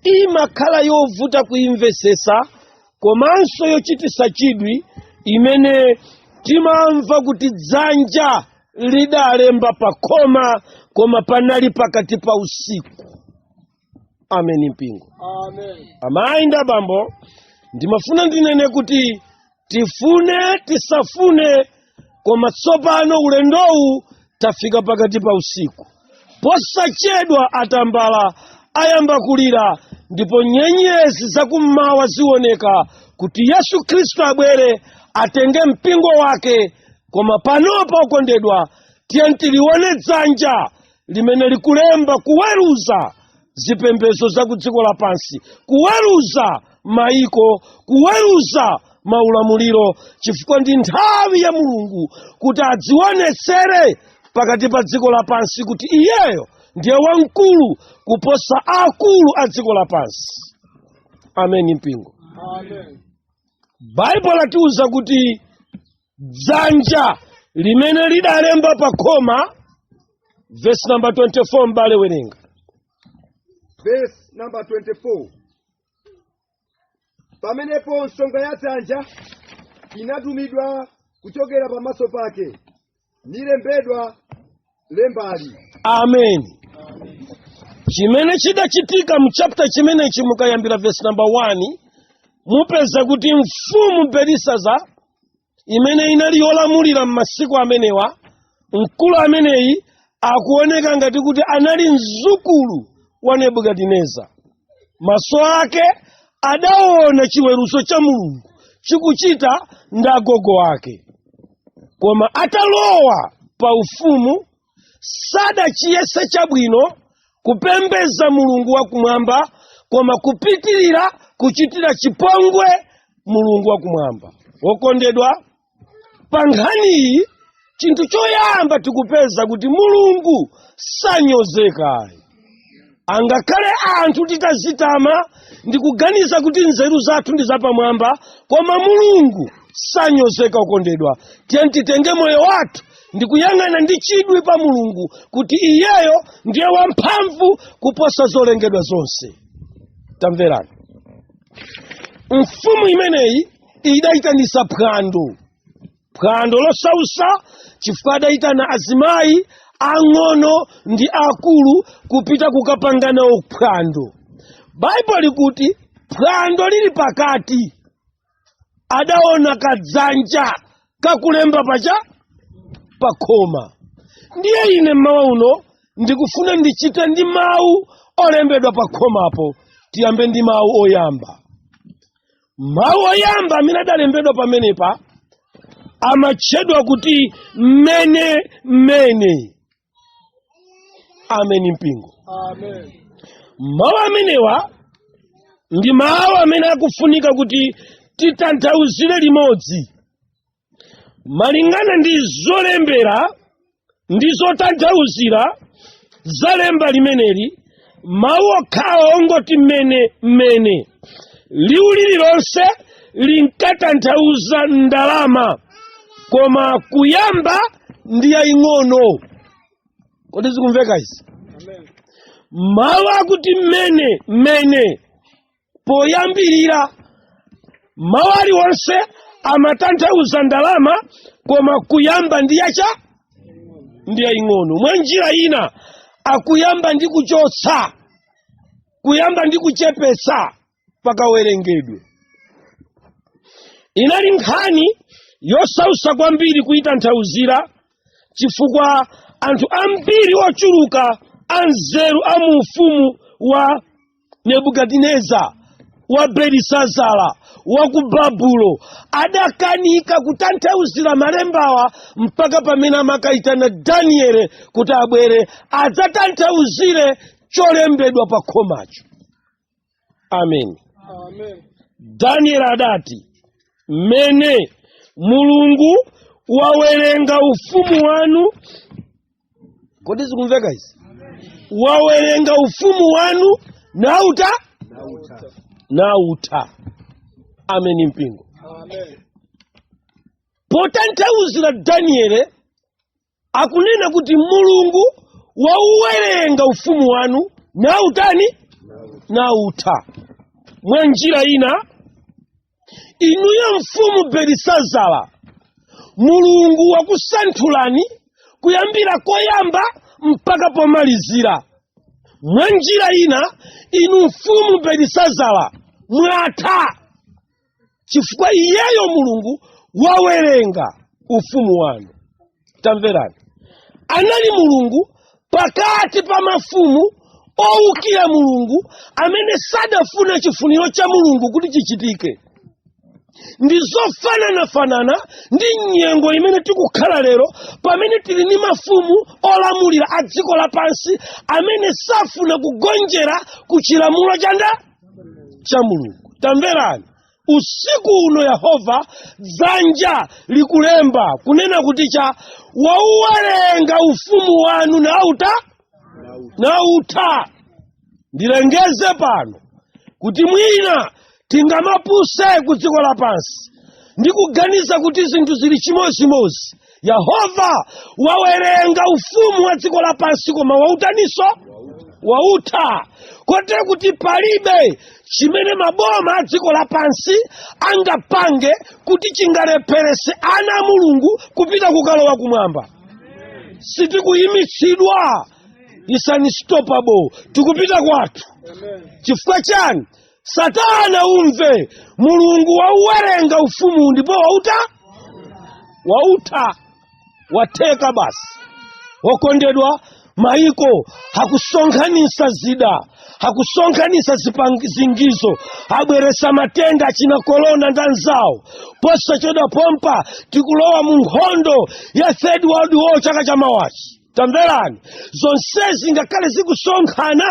imakhala yovuta kuimvesesa komanso yochitisa chidwi imene timamva kuti dzanja lidalemba pa khoma koma panali pakati pa usiku ameni mpingo amayi ndi abambo ndimafuna ndinene kuti tifune tisafune koma tsopano ulendowu tafika pakati pa usiku posachedwa atambala ayamba kulira ndipo nyenyezi zakummawa zioneka kuti yesu khristu abwere atenge mpingo wake koma panopa okondedwa tiyeni tilione dzanja limene likulemba kuweruza zipembedzo za ku dziko lapansi kuweruza maiko kuweruza maulamuliro chifukwa ndi nthawi ya mulungu kuti adzionetsere pakati pa dziko lapansi kuti iyeyo ndiye wamkulu kuposa akulu a dziko lapansi ameni mpingo baibulo latiuza kuti dzanja limene lidalemba pa khoma vesi namba 24 m'bale werenga Verse number 24. Pamenepo nsonga ya dzanja inatumidwa kuchokera pamaso pake, nilembedwa lembali amen chimene chidachitika mu chapter chimenechi mukayambira verse number 1 mupeza kuti mfumu belisaza imene inali yolamulira m'masiku amenewa mkulu ameneyi akuoneka ngati kuti anali mzukulu wa nebukadineza maso ake adaona chiweruzo cha mulungu chikuchita ndi agogo ake koma atalowa pa ufumu sadachiyese chabwino kupembeza mulungu wakumwamba koma kupitirira kuchitira chipongwe mulungu wakumwamba okondedwa pa nkhaniyi chinthu choyamba tikupeza kuti mulungu sanyozekayi angakhale anthu titazitama ndi kuganiza kuti nzeru zathu ndi zapamwamba koma mulungu sanyozeka okondedwa tiyeni titenge moyo wathu ndi kuyang'ana ndi chidwi pa mulungu kuti iyeyo ndiye wamphamvu kuposa zolengedwa zonse tamverani mfumu imeneyi idayitanisa phwando phwando losausa chifukwa adayitana azimayi ang'ono ndi akulu kupita kukapanga nawo phwando baibulo likuti phwando lili pakati adaona kadzanja kakulemba pacha pakhoma ndiye ine mmawa uno ndikufuna ndichite ndi mawu olembedwa pakhomapo tiyambe ndi mawu oyamba mawu oyamba amene adalembedwa pamenepa amatchedwa kuti mene mene ameni mpingo Amen. mawu amenewa ndi mawu amene akufunika kuti titanthauzire limodzi malingana ndi zolembera ndi zotanthauzira za lemba limeneli mawu okhawo ongoti mene mene liwu lililonse linkatanthauza ndalama koma kuyamba ndi yaying'ono kodi zikumveka izi mawu akuti mene mene poyambirira mawu aliwonse amatanthauza ndalama koma kuyamba ndi yacha ndi yaying'ono mwa njira ina akuyamba ndi kuchotsa kuyamba ndi kuchepetsa pakawerengedwe inali nkhani yosausa kwambiri kuyitanthauzira chifukwa anthu ambiri ochuluka anzeru a mu ufumu wa nebukadineza wa belisazara wa ku babulo adakanika kutanthauzira malembawa mpaka pamene amakayitana daniele kuti abwere adzatanthauzire cholembedwa pa khomacho ameni daniele adati mene mulungu wawerenga ufumu wanu kodi zikumveka izi wawerenga ufumu wanu nauta nautha ameni mpingo potanthauzira daniele akunena kuti mulungu wauwerenga ufumu wanu nautani nautha mwa njira ina inuyo mfumu belisazara mulungu wakusanthulani kuyambira koyamba mpaka pomalizira mwa njira ina inu mfumu belisazara mwatha chifukwa iyeyo mulungu wawerenga ufumu wanu tamverani anali mulungu pakati pa mafumu owukira mulungu amene sadafuna chifuniro cha mulungu kuti chichitike ndi zofananafanana ndi nyengo imene tikukhala lero pamene tili ni mafumu olamulira a dziko lapansi amene safuna kugonjera ku chilamulo cha nda cha mulungu tamverani usiku uno yehova dzanja likulemba kunena kuti cha wauwerenga ufumu wanu nauta nautha ndilengeze pano kuti mwina tingamapuse ku dziko lapansi ndi kuganiza kuti zinthu zili chimozimozi yehova wawerenga ufumu wa dziko lapansi koma wautaninso wautha kotero kuti palibe chimene maboma a dziko lapansi angapange kuti chingalepherese ana a mulungu kupita kukalowa kumwamba sitikuyimitsidwa is unstoppable tikupita kwathu chifukwa chani satana umve mulungu wauwerenga ufumu ndipo wautha wautha watheka basi wokondedwa maiko hakusonkhanisa zida hakusonkhanisa zipangizo abweresa matenda achina korona ndi anzawo posachedwa pompa tikulowa mu nkhondo ya third world war chaka cha mawachi tamverani zonsezi ngakhale zikusonkhana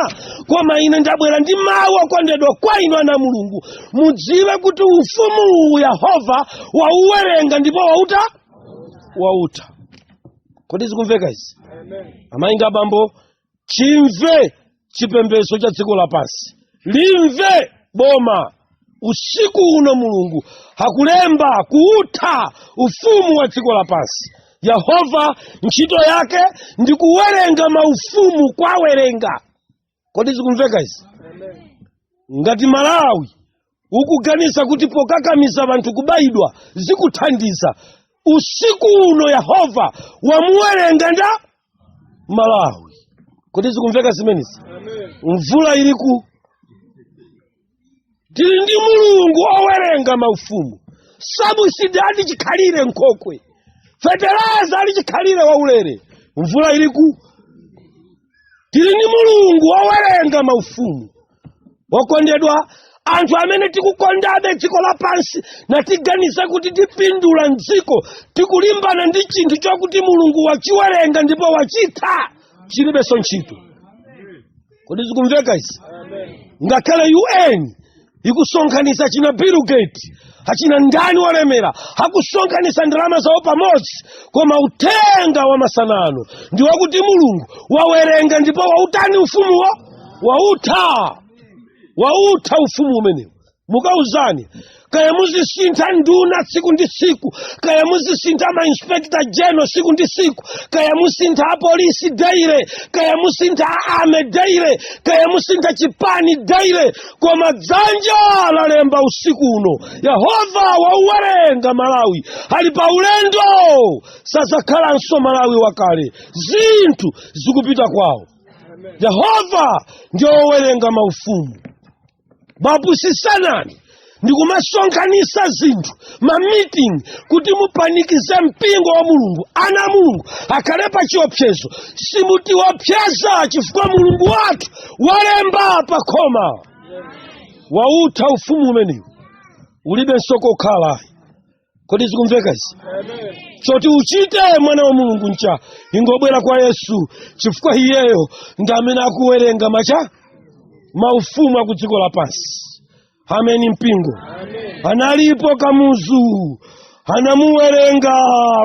koma ine ndabwera ndi mawu okondedwa kwa inu ana a mulungu mudziwe kuti ufumu uwu yehova wauwerenga ndipo wautha wautha kodi zikumveka izi amayi ndi abambo chimve chipembedzo cha dziko lapansi limve boma usiku uno mulungu akulemba kuutha ufumu wa dziko lapansi yehova ntchito yake ndi kuwerenga maufumu kuwawerenga kodi zikumveka izi ngati malawi ukuganiza kuti pokakamiza anthu kubayidwa zikuthandiza usiku uno yehova wamuwerenga nda malawi kodi zikumveka zimenezi mvula iliku tili ndi mulungu owerenga maufumu sabusidi ali chikhalire nkhokwe fetereza ali chikhalire waulere mvula iliku tili ndi mulungu wowerenga maufumu wokondedwa anthu amene tikukondabe dziko lapansi natiganiza kuti tipindula mdziko tikulimbana ndi chinthu chokuti mulungu wachiwerenga ndipo wachitha chilibenso ntchito kodi zikumveka izi ngakhale un ikusonkhanitsa achina bill gates achina ndani olemera akusonkhanitsa ndalama zawo pamodzi koma uthenga wa masana ano ndi wakuti mulungu wawerenga ndipo wautani ufumuwo wautha wautha ufumu umenewu mukauzani kaya muzisintha nduna tsiku ndi tsiku kaya muzisintha mainspekta general tsiku ndi tsiku kaya musintha apolisi daily kaya musintha a army daily kaya musintha chipani daily koma dzanja lalemba usiku uno yehova wauwerenga malawi ali pa ulendo sadzakhalanso malawi wakale zinthu zikupita kwawo yehova ndi wowerenga maufumu bapusisanani ndikumasonkhanisa zinthu ma meeting kuti mupanikize mpingo wa mulungu ana a mulungu akhale pa chiopsezo simutiopseza chifukwa mulungu wathu walemba pa khoma wautha ufumu umenewu ulibenso kokhala kodi zikumveka izi choti uchite mwana wa mulungu ncha ingobwera kwa yesu chifukwa iyeyo ndi amene akuwerenga macha maufumu a ku dziko lapansi ameni mpingo analipo kamuzu anamuwerenga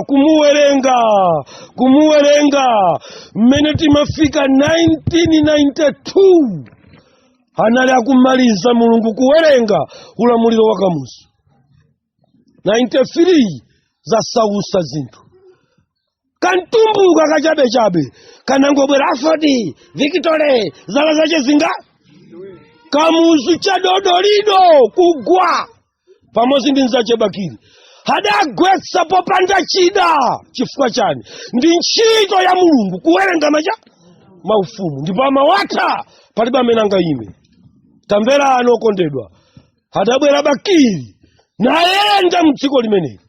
kumuwerenga kumuwerenga mmene timafika 1992 anali akumaliza mulungu kuwerenga ulamuliro wa kamuzu 93 zasausa zinthu kantumbuka kachabechabe kanangobwera afodi victory zala zache zinga kamuzu chadodolido kugwa pamodzi ndi nzache bakiri adagwetsa popanda chida chifukwa chani ndi ntchito ya mulungu kuwerenga macha maufumu ndipo amawatha palibe amene angayime tamverani okondedwa adabwera bakiri nayenda mdziko limeneli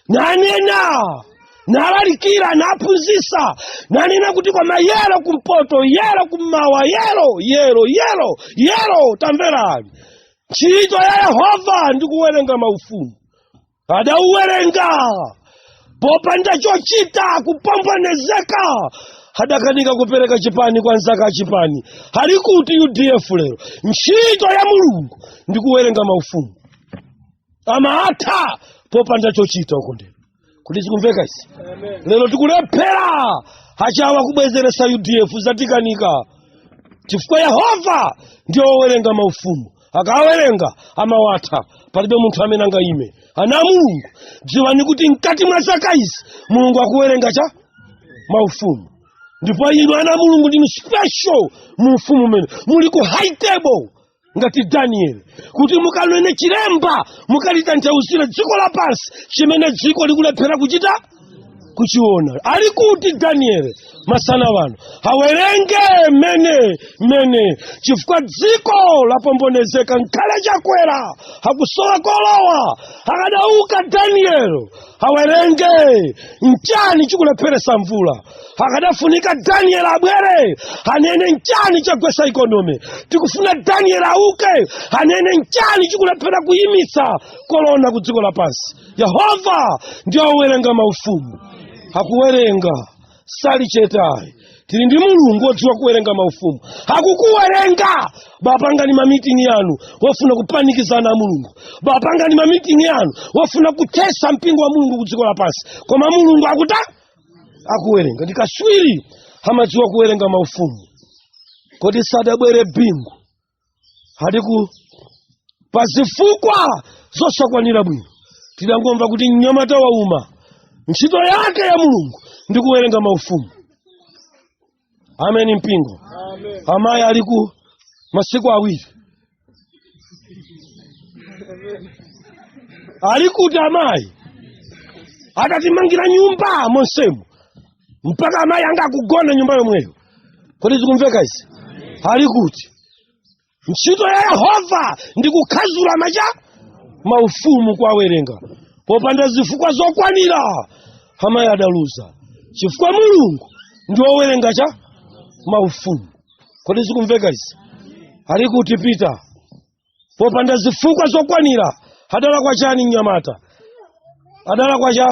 nanena nalalikira naphunzisa nanena kuti koma yero kumpoto yero kummawa yero yero yero yero tamverani ntchito ya yehova ndi kuwerenga maufumu adauwerenga popanda chochita kupombonezeka adakanika kupereka chipani kwa anzake a chipani ali kuti udf lero ntchito ya mulungu ndi kuwerenga maufumu amawatha popanda chochita okondedwa kodi zikumveka izi lero tikulephera achawa kubwezeresa udf zatikanika chifukwa yehova ndiye wowerenga maufumu akawerenga amawatha palibe munthu amene angayime ana a mulungu dziwani kuti mkati mwa zaka izi mulungu akuwerenga cha maufumu ndipo inu ana a mulungu ndinu special mu ufumu umene muli ku high table ngati danieli kuti mukanene chilemba mukalitanthauzire dziko lapansi chimene dziko likulephera kuchita kuchiona ali kuti danieli masana wano awerenge mene mene chifukwa dziko lapombonezeka nkhale chakwera akusowa kolowa akadauka danieli awerenge nchani chikulepheresa mvula akadafunika danieli abwere anene nchani chagwesa ikonomi tikufuna danieli auke anene nchani chikulephera kuyimitsa kolona ku dziko lapansi yehova ndi owerenga maufumu akuwerenga sali chetayi tili ndi mulungu wodziwa kuwerenga maufumu akukuwerenga bapangani mamitingi yanu wofuna kupanikiza ana a mulungu bapangani mamitingi yanu wofuna kuthesa mpingo wa mulungu ku dziko lapansi koma mulungu akuta akuwerenga ndi kaswiri amadziwa kuwerenga maufumu kodi sadabwere bingu aliku pa zifukwa zosakwanira bwino tidangomva kuti mnyamata wauma ntchito yake ya mulungu ndi kuwerenga maufumu ameni mpingo amayi aliku masiku awiri ali kuti amayi adatimangira nyumba monsemu mpaka amayi anga akugona nyumba yomweyo kodi zikumveka izi ali kuti ntchito ya yehova ndi kukhazula macha maufumu kuwawerenga popanda zifukwa zokwanira amayi adaluza chifukwa mulungu ndi wowerenga cha maufumu kodi zikumveka izi ali kuti pita popanda zifukwa zokwanira adalakwa chani mnyamata adalakwa cha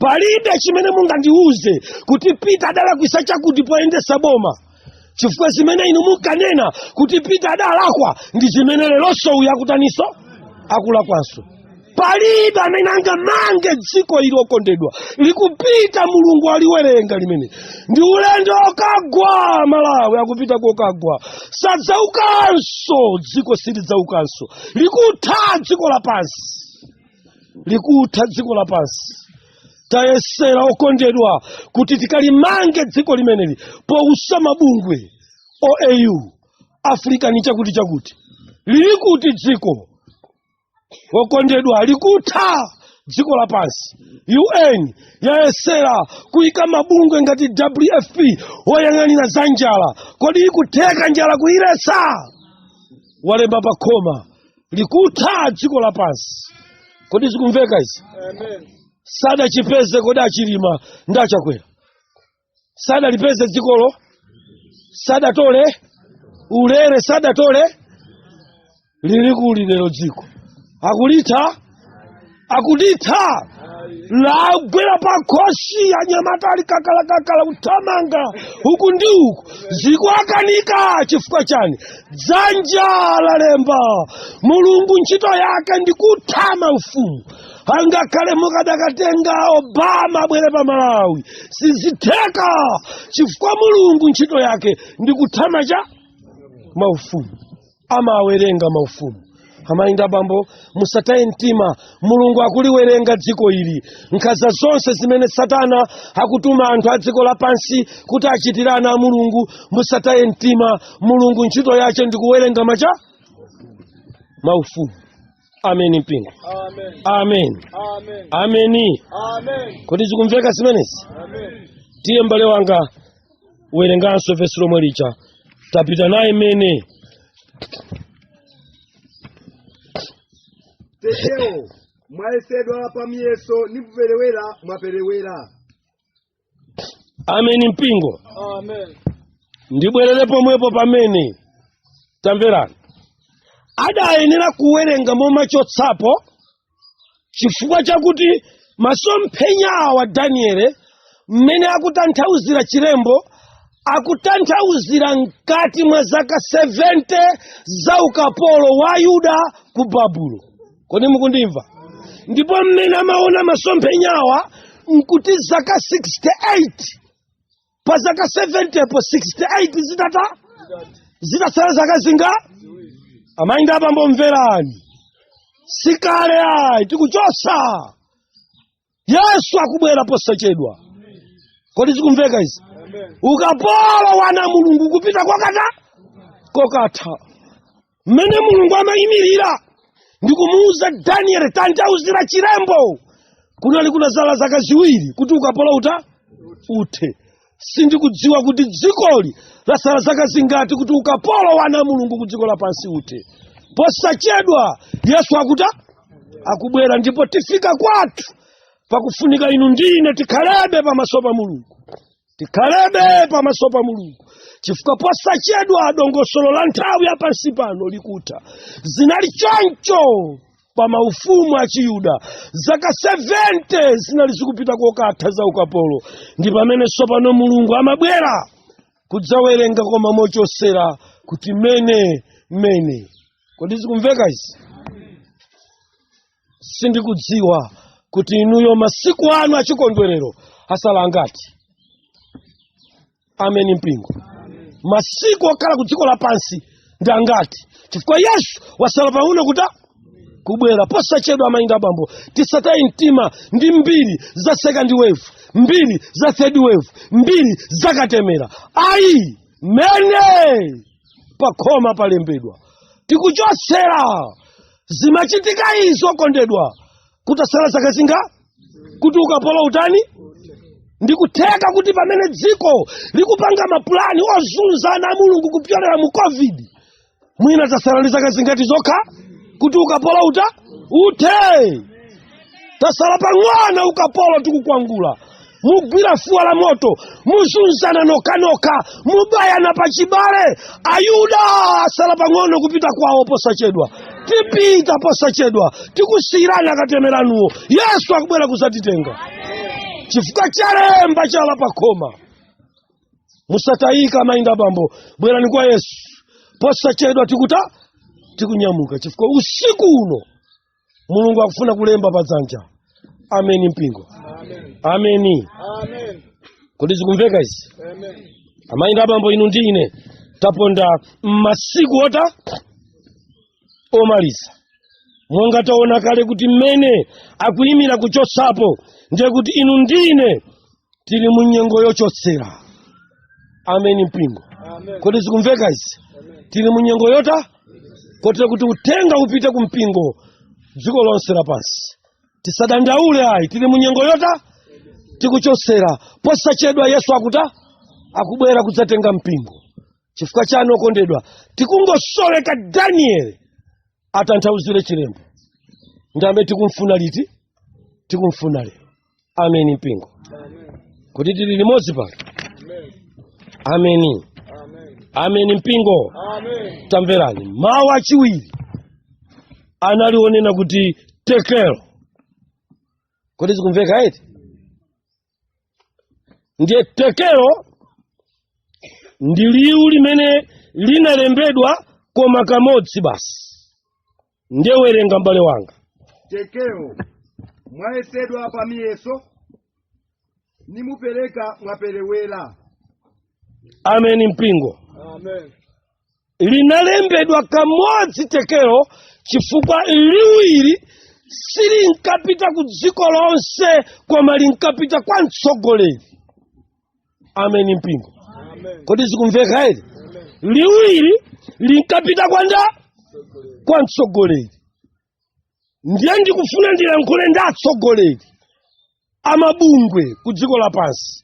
palibe chimene mungandiuze kuti pita adalakwisa chakuti poyendesa boma chifukwa zimene inu munkanena kuti pita adalakwa ndi zimene leronso uyu akutaniso akulakwanso palibe amene angamange dziko ili okondedwa likupita mulungu aliwerenga limene ndi ulendo okagwa malawi akupita kokagwa sadzaukanso dziko silidzaukanso likutha dziko lapansi likutha dziko lapansi tayesera okondedwa kuti tikalimange dziko limeneli pousa mabungwe oau african chakuti chakuti lili kuti dziko wokondedwa likutha dziko lapansi un yayesera kuyika mabungwe ngati wfp woyang'anira za njala kodi ikutheka njala kuyiletsa walemba pa khoma likutha dziko lapansi kodi zikumveka izi sadachipeze kodi achilima ndi achakwera sadalipeze dzikolo sadatole ulere sadatole lili kuti lero dziko akulitha akulitha lagwera pa khosi anyamata ali kakalakakala kuthamanga uku ndi uku zikuwakanika chifukwa chani dzanja lalemba mulungu ntchito yake ndi kutha maufumu angakhale mukadakatenga obama abwere pa malawi sizitheka chifukwa mulungu ntchito yake ndi kutha macha maufumu amawerenga maufumu amayi ndi abambo musataye mtima mulungu akuliwerenga dziko ili nkhanza zonse zimene satana akutuma anthu a dziko lapansi kuti achitire ana a mulungu musataye mtima mulungu ntchito yace ndi kuwerenga macha maufumu ameni mpingo Amen. ameni Amen. ameni Amen. kodi zikumveka zimenezi Amen. tiye m'bale wanga werenganso vesi lomwe lija tapita naye mene Tekelo, mwayesedwa pa miyeso nimupelewera mwaperewera. amen mpingo Amen. ndibwerere pomwepo pamene tamverani adayenera kuwerenga momachotsapo chifukwa chakuti masomphenya awa daniele mmene akutanthauzira chilembo akutanthauzira mkati mwa zaka 70 za ukapolo wa ayuda ku babulo kodi mukundimva ndipo mmene amaona masomphenyawa nkuti zaka 68 pa zaka 70 po 68 zitatha zitatsala zaka zinga amayi ndi abambo mverani sikale ayi tikuchosa yesu akubwera posachedwa kodi zikumveka izi ukapolo wa ana a mulungu kupita kokata kokatha mmene mulungu amayimirira ndi kumuwuza daniele tanthauzira chilembo kunali kunasala zaka ziwiri kuti ukapolo uta uthe sindikudziwa kuti dzikoli lasala zaka zingati kuti ukapolo wa ana a mulungu ku dziko lapansi uthe posachedwa yesu akuta akubwera ndipo tifika kwathu pakufunika inu ndi ine tikhalebe pamaso pa mulungu tikhalebe pamaso pa mulungu chifukwa posachedwa dongosolo la nthawi ya pansi pano likutha zinali choncho pa maufumu a chiyuda zaka 70 zinali zikupita kokatha za ukapolo ndi pamene sopano mulungu amabwera kudzawerenga koma mochosera kuti mene mene kodi zikumveka izi sindikudziwa kuti inuyo masiku anu achikondwerero asala angati ameni mpingo masiku okhala ku dziko lapansi ndi angati chifukwa yesu wasala pang'ono kuta kubwera posachedwa mayi ndi abambo tisataye mtima ndi mbiri za second wave mbiri za third wave mbiri za katemera ayi mene pakhoma palembedwa tikuchotsera zimachitika izi okondedwa kutasala zaka zinga kuti ukapolo utani ndi kutheka kuti pamene dziko likupanga mapulani ozunza ana a mulungu kupyolera mu covid mwina tasala ndi zaka zingati zokha kuti ukapolo uta uthe tasala pang'ono ukapolo tikukwangula mugwira fuwa la moto muzunzana nokhanokha mubayana pa chibale ayuda asala pang'ono kupita kwawo posachedwa tipita posachedwa tikusiyirani akatemera anuwo yesu akubwera kuzatitenga chifukwa chalemba chala pakhoma musatayike amayi ndi abambo bwerani kwa yesu posachedwa tikuta tikunyamuka chifukwa usiku uno mulungu akufuna kulemba pa dzanja ameni mpingo ameni kodi zikumveka izi amayi ndi abambo inu ndi ine taponda m'masiku ota omaliza monga taona kale kuti mene akuyimira kuchotsapo ndiye kuti inu ndi ine tili mu nyengo yochotsera ameni mpingo kodi zikumveka izi tili mu nyengo yota kotera kuti uthenga upite ku mpingo dziko lonse lapansi tisadandaule ayi tili mu nyengo yota tikuchotsera posachedwa yesu akuta akubwera kudzatenga mpingo chifukwa chani okondedwa tikungosoweka danieli atanthauzire chilembo ndi amene tikumfuna liti tikumfuna lero ameni mpingo kodi tili limodzi pano ameni ameni mpingo tamverani mawu achiwiri anali onena kuti tekelo kodi zikumveka eti ndiye tekelo ndi liwu limene linalembedwa koma kamodzi basi ndiye werenga mbale wanga tekelo mwayesedwa pa miyeso nimupereka mwaperewera ameni mpingo amen linalembedwa kamodzi tekelo chifukwa liwu ili silinkapita ku dziko lonse koma linkapita kwa mtsogoleri ameni mpingo kodi zikumveka eti liwu ili linkapita kwa nda kwa mtsogoleri ndiye ndikufuna ndilankhule ndi atsogoleri amabungwe ku dziko lapansi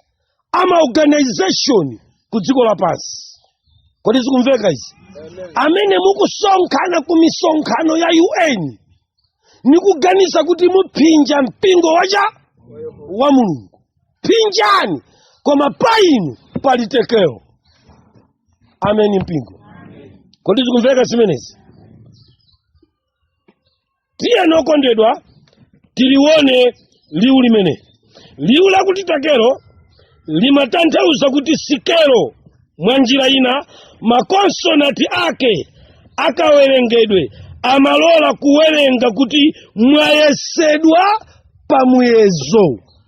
amaorganization ku dziko lapansi kodi zikumveka izi amene mukusonkhana ku misonkhano ya un nikuganiza kuti muphinja mpingo wacha wa mulungu phinjani koma pa inu pali tekelo ameni mpingo kodi zikumveka zimenezi tiyeni okondedwa tilione liwu limene liwu lakuti tekelo limatanthauza kuti sikelo mwa njira ina makonsonanti ake akawerengedwe amalola kuwerenga kuti mwayesedwa pamuyezo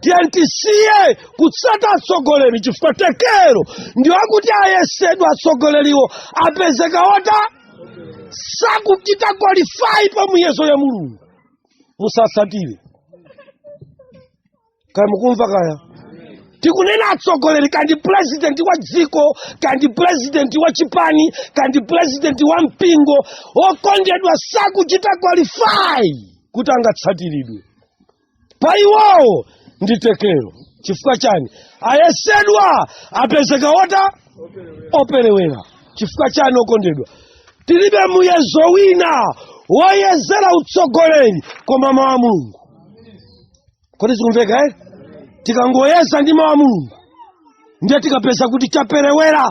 tiyeni tisiye kutsata atsogoleri chifukwa tekero ndiwo akuti ayesedwa atsogoleriwo apezeka wota sakuchita qualify pa muyezo ya mulungu musatsatire kaya mukumva kaya tikunena atsogoleri kandi purezidenti wa dziko kandi purezidenti wa chipani kandi purezidenti wa mpingo okondedwa sakuchita qualify kuti angatsatiridwe pa iwowo ndi tekero chifukwa chani ayesedwa apezeka wota operewera chifukwa chani okondedwa tilibe muyezo wina woyezera utsogoleri koma mawu a mulungu kodi zikumveka eti tikangoyeza ndi mawu a mulungu ndiye tikapeza kuti chaperewera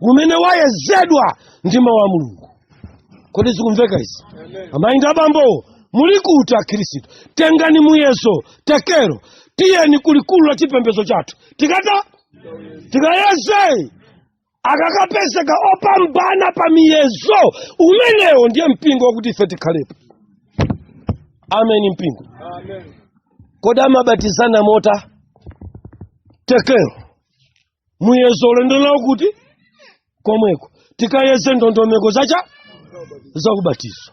umene wayezedwa ndi mawu a mulungu kodi zikumveka izi amayi ndi abambowo muli kuti akhristu tengani muyezo tekero tiyeni kulikulu la chipembedzo chathu tikata tikayeze akakapezeka opambana pa miyezo umenewo ndiye mpingo wakuti ife tikhalepo ameni mpingo kodi amabatizana mota tekero muyezo ulendo nawo kuti komweko tikayeze ndondomeko zacha zakubatizo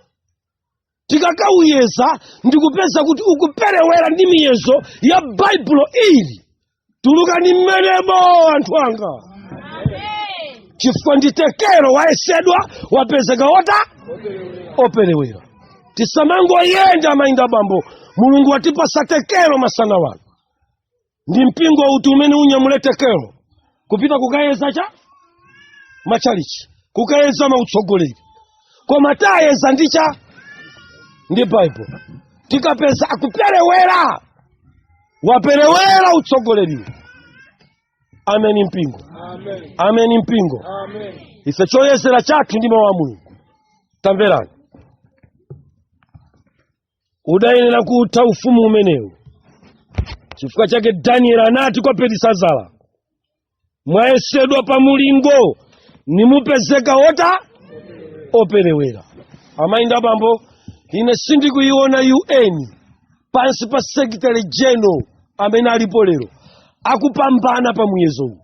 tikakawuyeza ndikupeza kuti ukuperewera ndi miyezo ya baibulo ili tulukani mmenemo anthu anga chifukwa ndi tekero wayesedwa wapezeka wota operewera tisamangoyenda mayi ndi abambo mulungu watipasa tekero masana ano ndi mpingo uti umene unyamule tekelo kupita kukayeza cha machalichi kukayeza mautsogoleri koma tiyeza ndi cha ndi baibulo tikapeza akuperewera waperewera utsogoleriwo ameni mpingo ameni ameni mpingo ameni ife choyezera chathu ndi mawu a mulungu tamverani udayenera kutha ufumu umenewu chifukwa chake danieli anati kwa belisazara mwayesedwa pa mulingo nimupezeka ota operewera amayi ndi abambo ine sindikuyiona UN pansi pa secretary general amene alipo lero akupambana pa muyezowu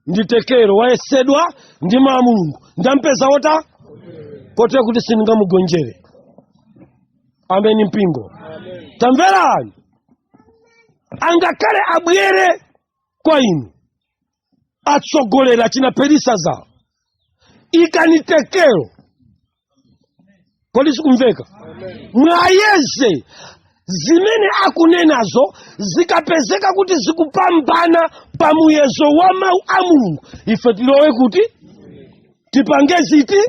ndi tekelo wayesedwa ndi mawu a mulungu ndampeza wota kotero kuti sindingamugonjere ameni mpingo tamverani angakhale abwere kwa inu atsogoleri achina belisazara ikani tekelo kodi zikumveka mwayeze zimene akunenazo zikapezeka kuti zikupambana pa muyezo wa mawu a mulungu ife tilowe kuti tipange ziti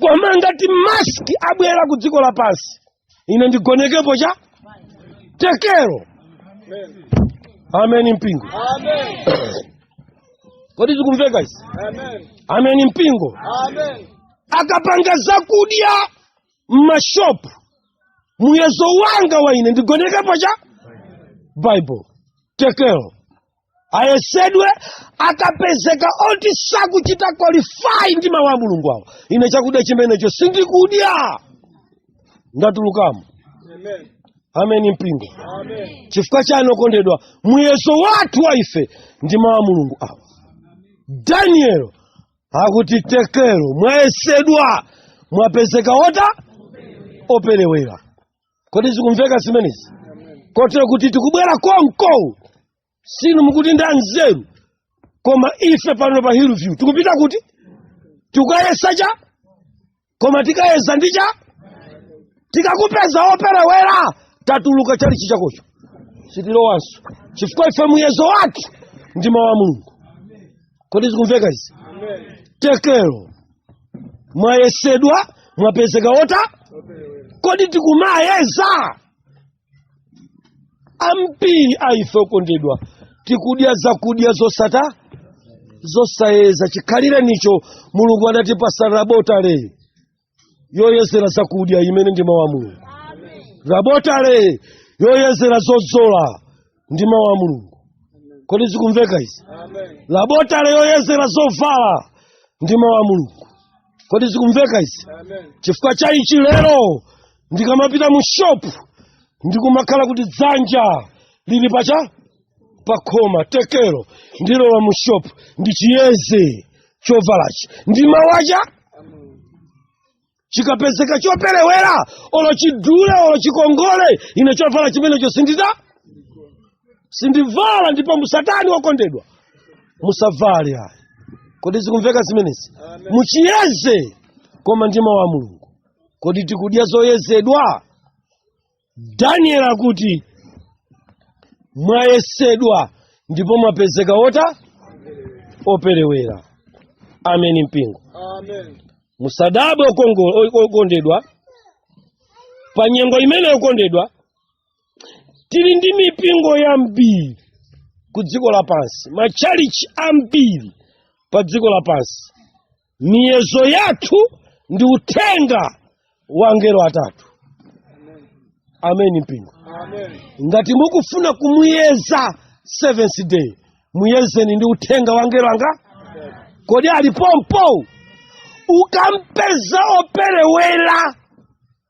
koma ngati maski abwera ku dziko lapansi ine ndigonekepo cha tekelo ameni mpingo kodi zikumveka izi ameni mpingo akapanga zakudya m'mashopu muyezo wanga wa ine ndigonekepo cha bible tekelo ayesedwe akapezeka oti sakuchita qualify ndi mawu a mulungu awo ine chakudya chimenecho sindikudya ndatulukamo ameni mpingo chifukwa chani okondedwa muyezo wathu wa ife ndi mawu a mulungu awa daniel akuti tekelo mwayesedwa mwapezeka ota operewera kodi zikumveka zimenezi kotero kuti tikubwera konko sinu mukuti nda nzeru koma ife pano pa hillview tikupita kuti tikayeza cha koma tikayeza ndi cha tikakupeza woperewera tatuluka chalichi chakocho sitilowanso chifukwa ife muyezo wathu ndi mawu a mulungu kodi zikumveka izi tekelo mwayesedwa mwapezeka wota kodi tikumayeza ambiri a ife okondedwa tikudya zakudya zosata zosayeza chikhalirenicho mulungu anatipasa labotale yoyezera zakudya imene ndi mawu a mulungu labotale yoyezera zodzola ndi mawu a mulungu kodi zikumveka izi labotale yoyezera zovala ndi mawu a mulungu kodi zikumveka izi chifukwa cha ichi lero ndikamapita mu shopu ndikumakhala kuti dzanja lili pacha pakhoma tekero ndilowa mu shopu ndichiyeze chovalachi ndi mawu a Ja chikapezeka choperewera olo chidule olo chikongole ine chovala chimenecho sindita sindivala ndipo musatani okondedwa musavale ayi kodi zikumveka zimenezi muchiyeze koma ndi mawu a mulungu kodi tikudya zoyezedwa daniel akuti mwayesedwa ndipo mwapezeka ota operewera ameni mpingo ameni musadabwe okondedwa pa nyengo imeneyo okondedwa tili ndi mipingo yambiri ku dziko lapansi matchalichi ambiri pa dziko lapansi miyezo yathu ndi uthenga wa angelo atatu ameni mpingo ngati mukufuna kumuyeza seventh day muyezeni ndi uthenga wa angelo angati kodi ali pompo ukampeza operewera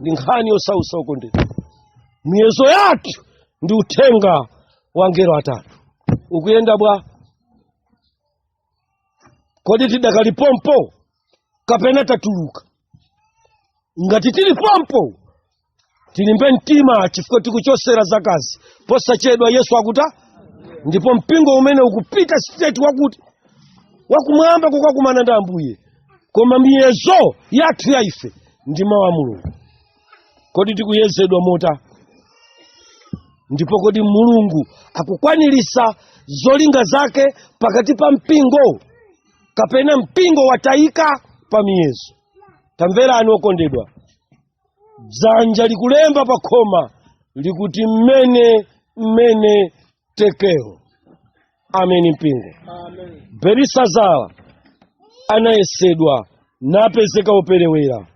ndi nkhani yosausa okondedwa miyezo yathu ndi uthenga wa angelo atatu ukuyenda bwa kodi tidakali pompo kapena tatuluka ngati tili pompo tilimbe mtima chifukwa tikutsogolera za kuti posachedwa yesu akuta ndipo mpingo umene ukupita sitireti wakuti wakumwamba kukakumana ndi ambuye koma miyezo yathu ya ife ndi mawu a mulungu kodi tikuyezedwa mota ndipo kodi mulungu akukwanirisa zolinga zake pakati pa mpingo kapena mpingo watayika pa miyezo tamverani okondedwa dzanja likulemba pa khoma likuti mene mene tekero ameni mpingo belisazara anayesedwa napezeka woperewera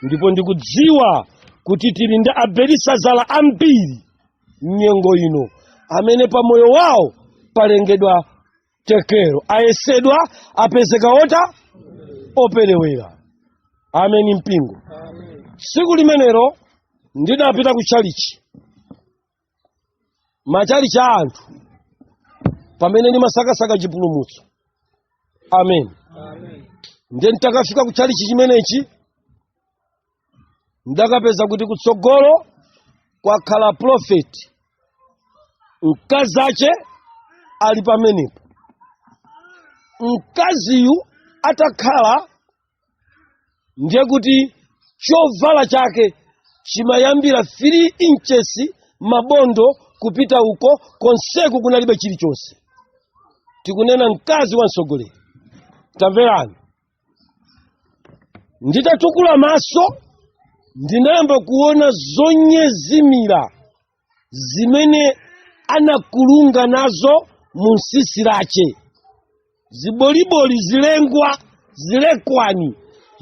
ndipo ndikudziwa kuti tili ndi abelisazara ambiri mnyengo ino amene pa moyo wawo palembedwa tekero ayesedwa apezeka ota operewera ameni mpingo tsiku limenelo ndidapita ku chalichi machalichi a anthu pamene ndimasakasaka chipulumutso amen ndiye nditakafika ku chalichi chimenechi ndidakapeza kuti kutsogolo kwakhala profeti mkazi ache ali pamenepo mkaziyu atakhala ndiye kuti chovala chake chimayambira 3 inches mabondo kupita uko konseku kunalibe chilichonse tikunena mkazi wa mtsogoleri tamverani nditatukula maso ndinayamba kuona zonyezimira zimene anakulunga nazo mu tsitsi lake ziboliboli zilengwa zilekwani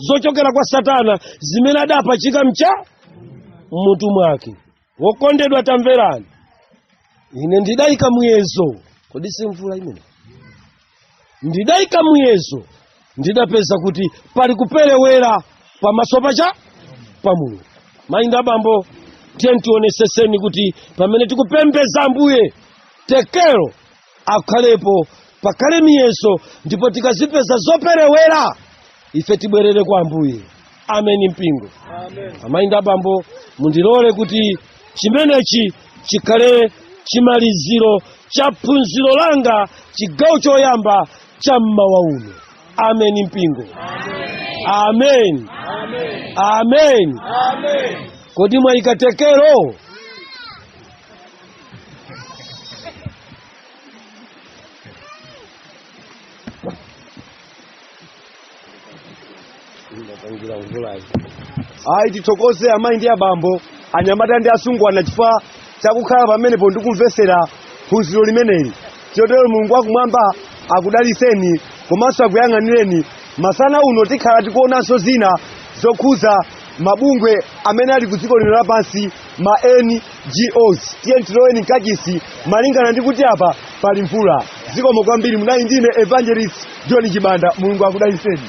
zochokera kwa satana zimene adapachika mcha mmutu mwake wokondedwa tamverani ine ndidayika muyezo kodi si mvula imene ndidayika muyezo ndidapeza kuti pali kuperewera pamaso pacha pa mulungu mayi ndi abambo tiyeni tioneseseni kuti pamene tikupembeza ambuye tekero akhalepo pakhale miyezo ndipo tikazipeza zoperewera ife tibwerere kwa ambuye ameni mpingo amayi ndi abambo mundilole kuti chimenechi chikhale chimaliziro cha phunziro langa chigawo choyamba cha mmawa uno ameni mpingo amen amen kodi mwayika tekero ayi tithokoze amayi ndi abambo anyamata ndi asungwana chifukwa chakukhala pamenepo ndi kumvetsera phunziro limeneli chotero mulungu wakumwamba akudaliseni komanso akuyang'anireni masana uno tikhala tikuonanso zina zokhuza mabungwe amene ali ku dziko lino lapansi ma NGOs tiye tiloweni mkachisi malingana ndi kuti apa pali mvula zikomo kwambiri munali ndine evangelist john chibanda mulungu akudaliseni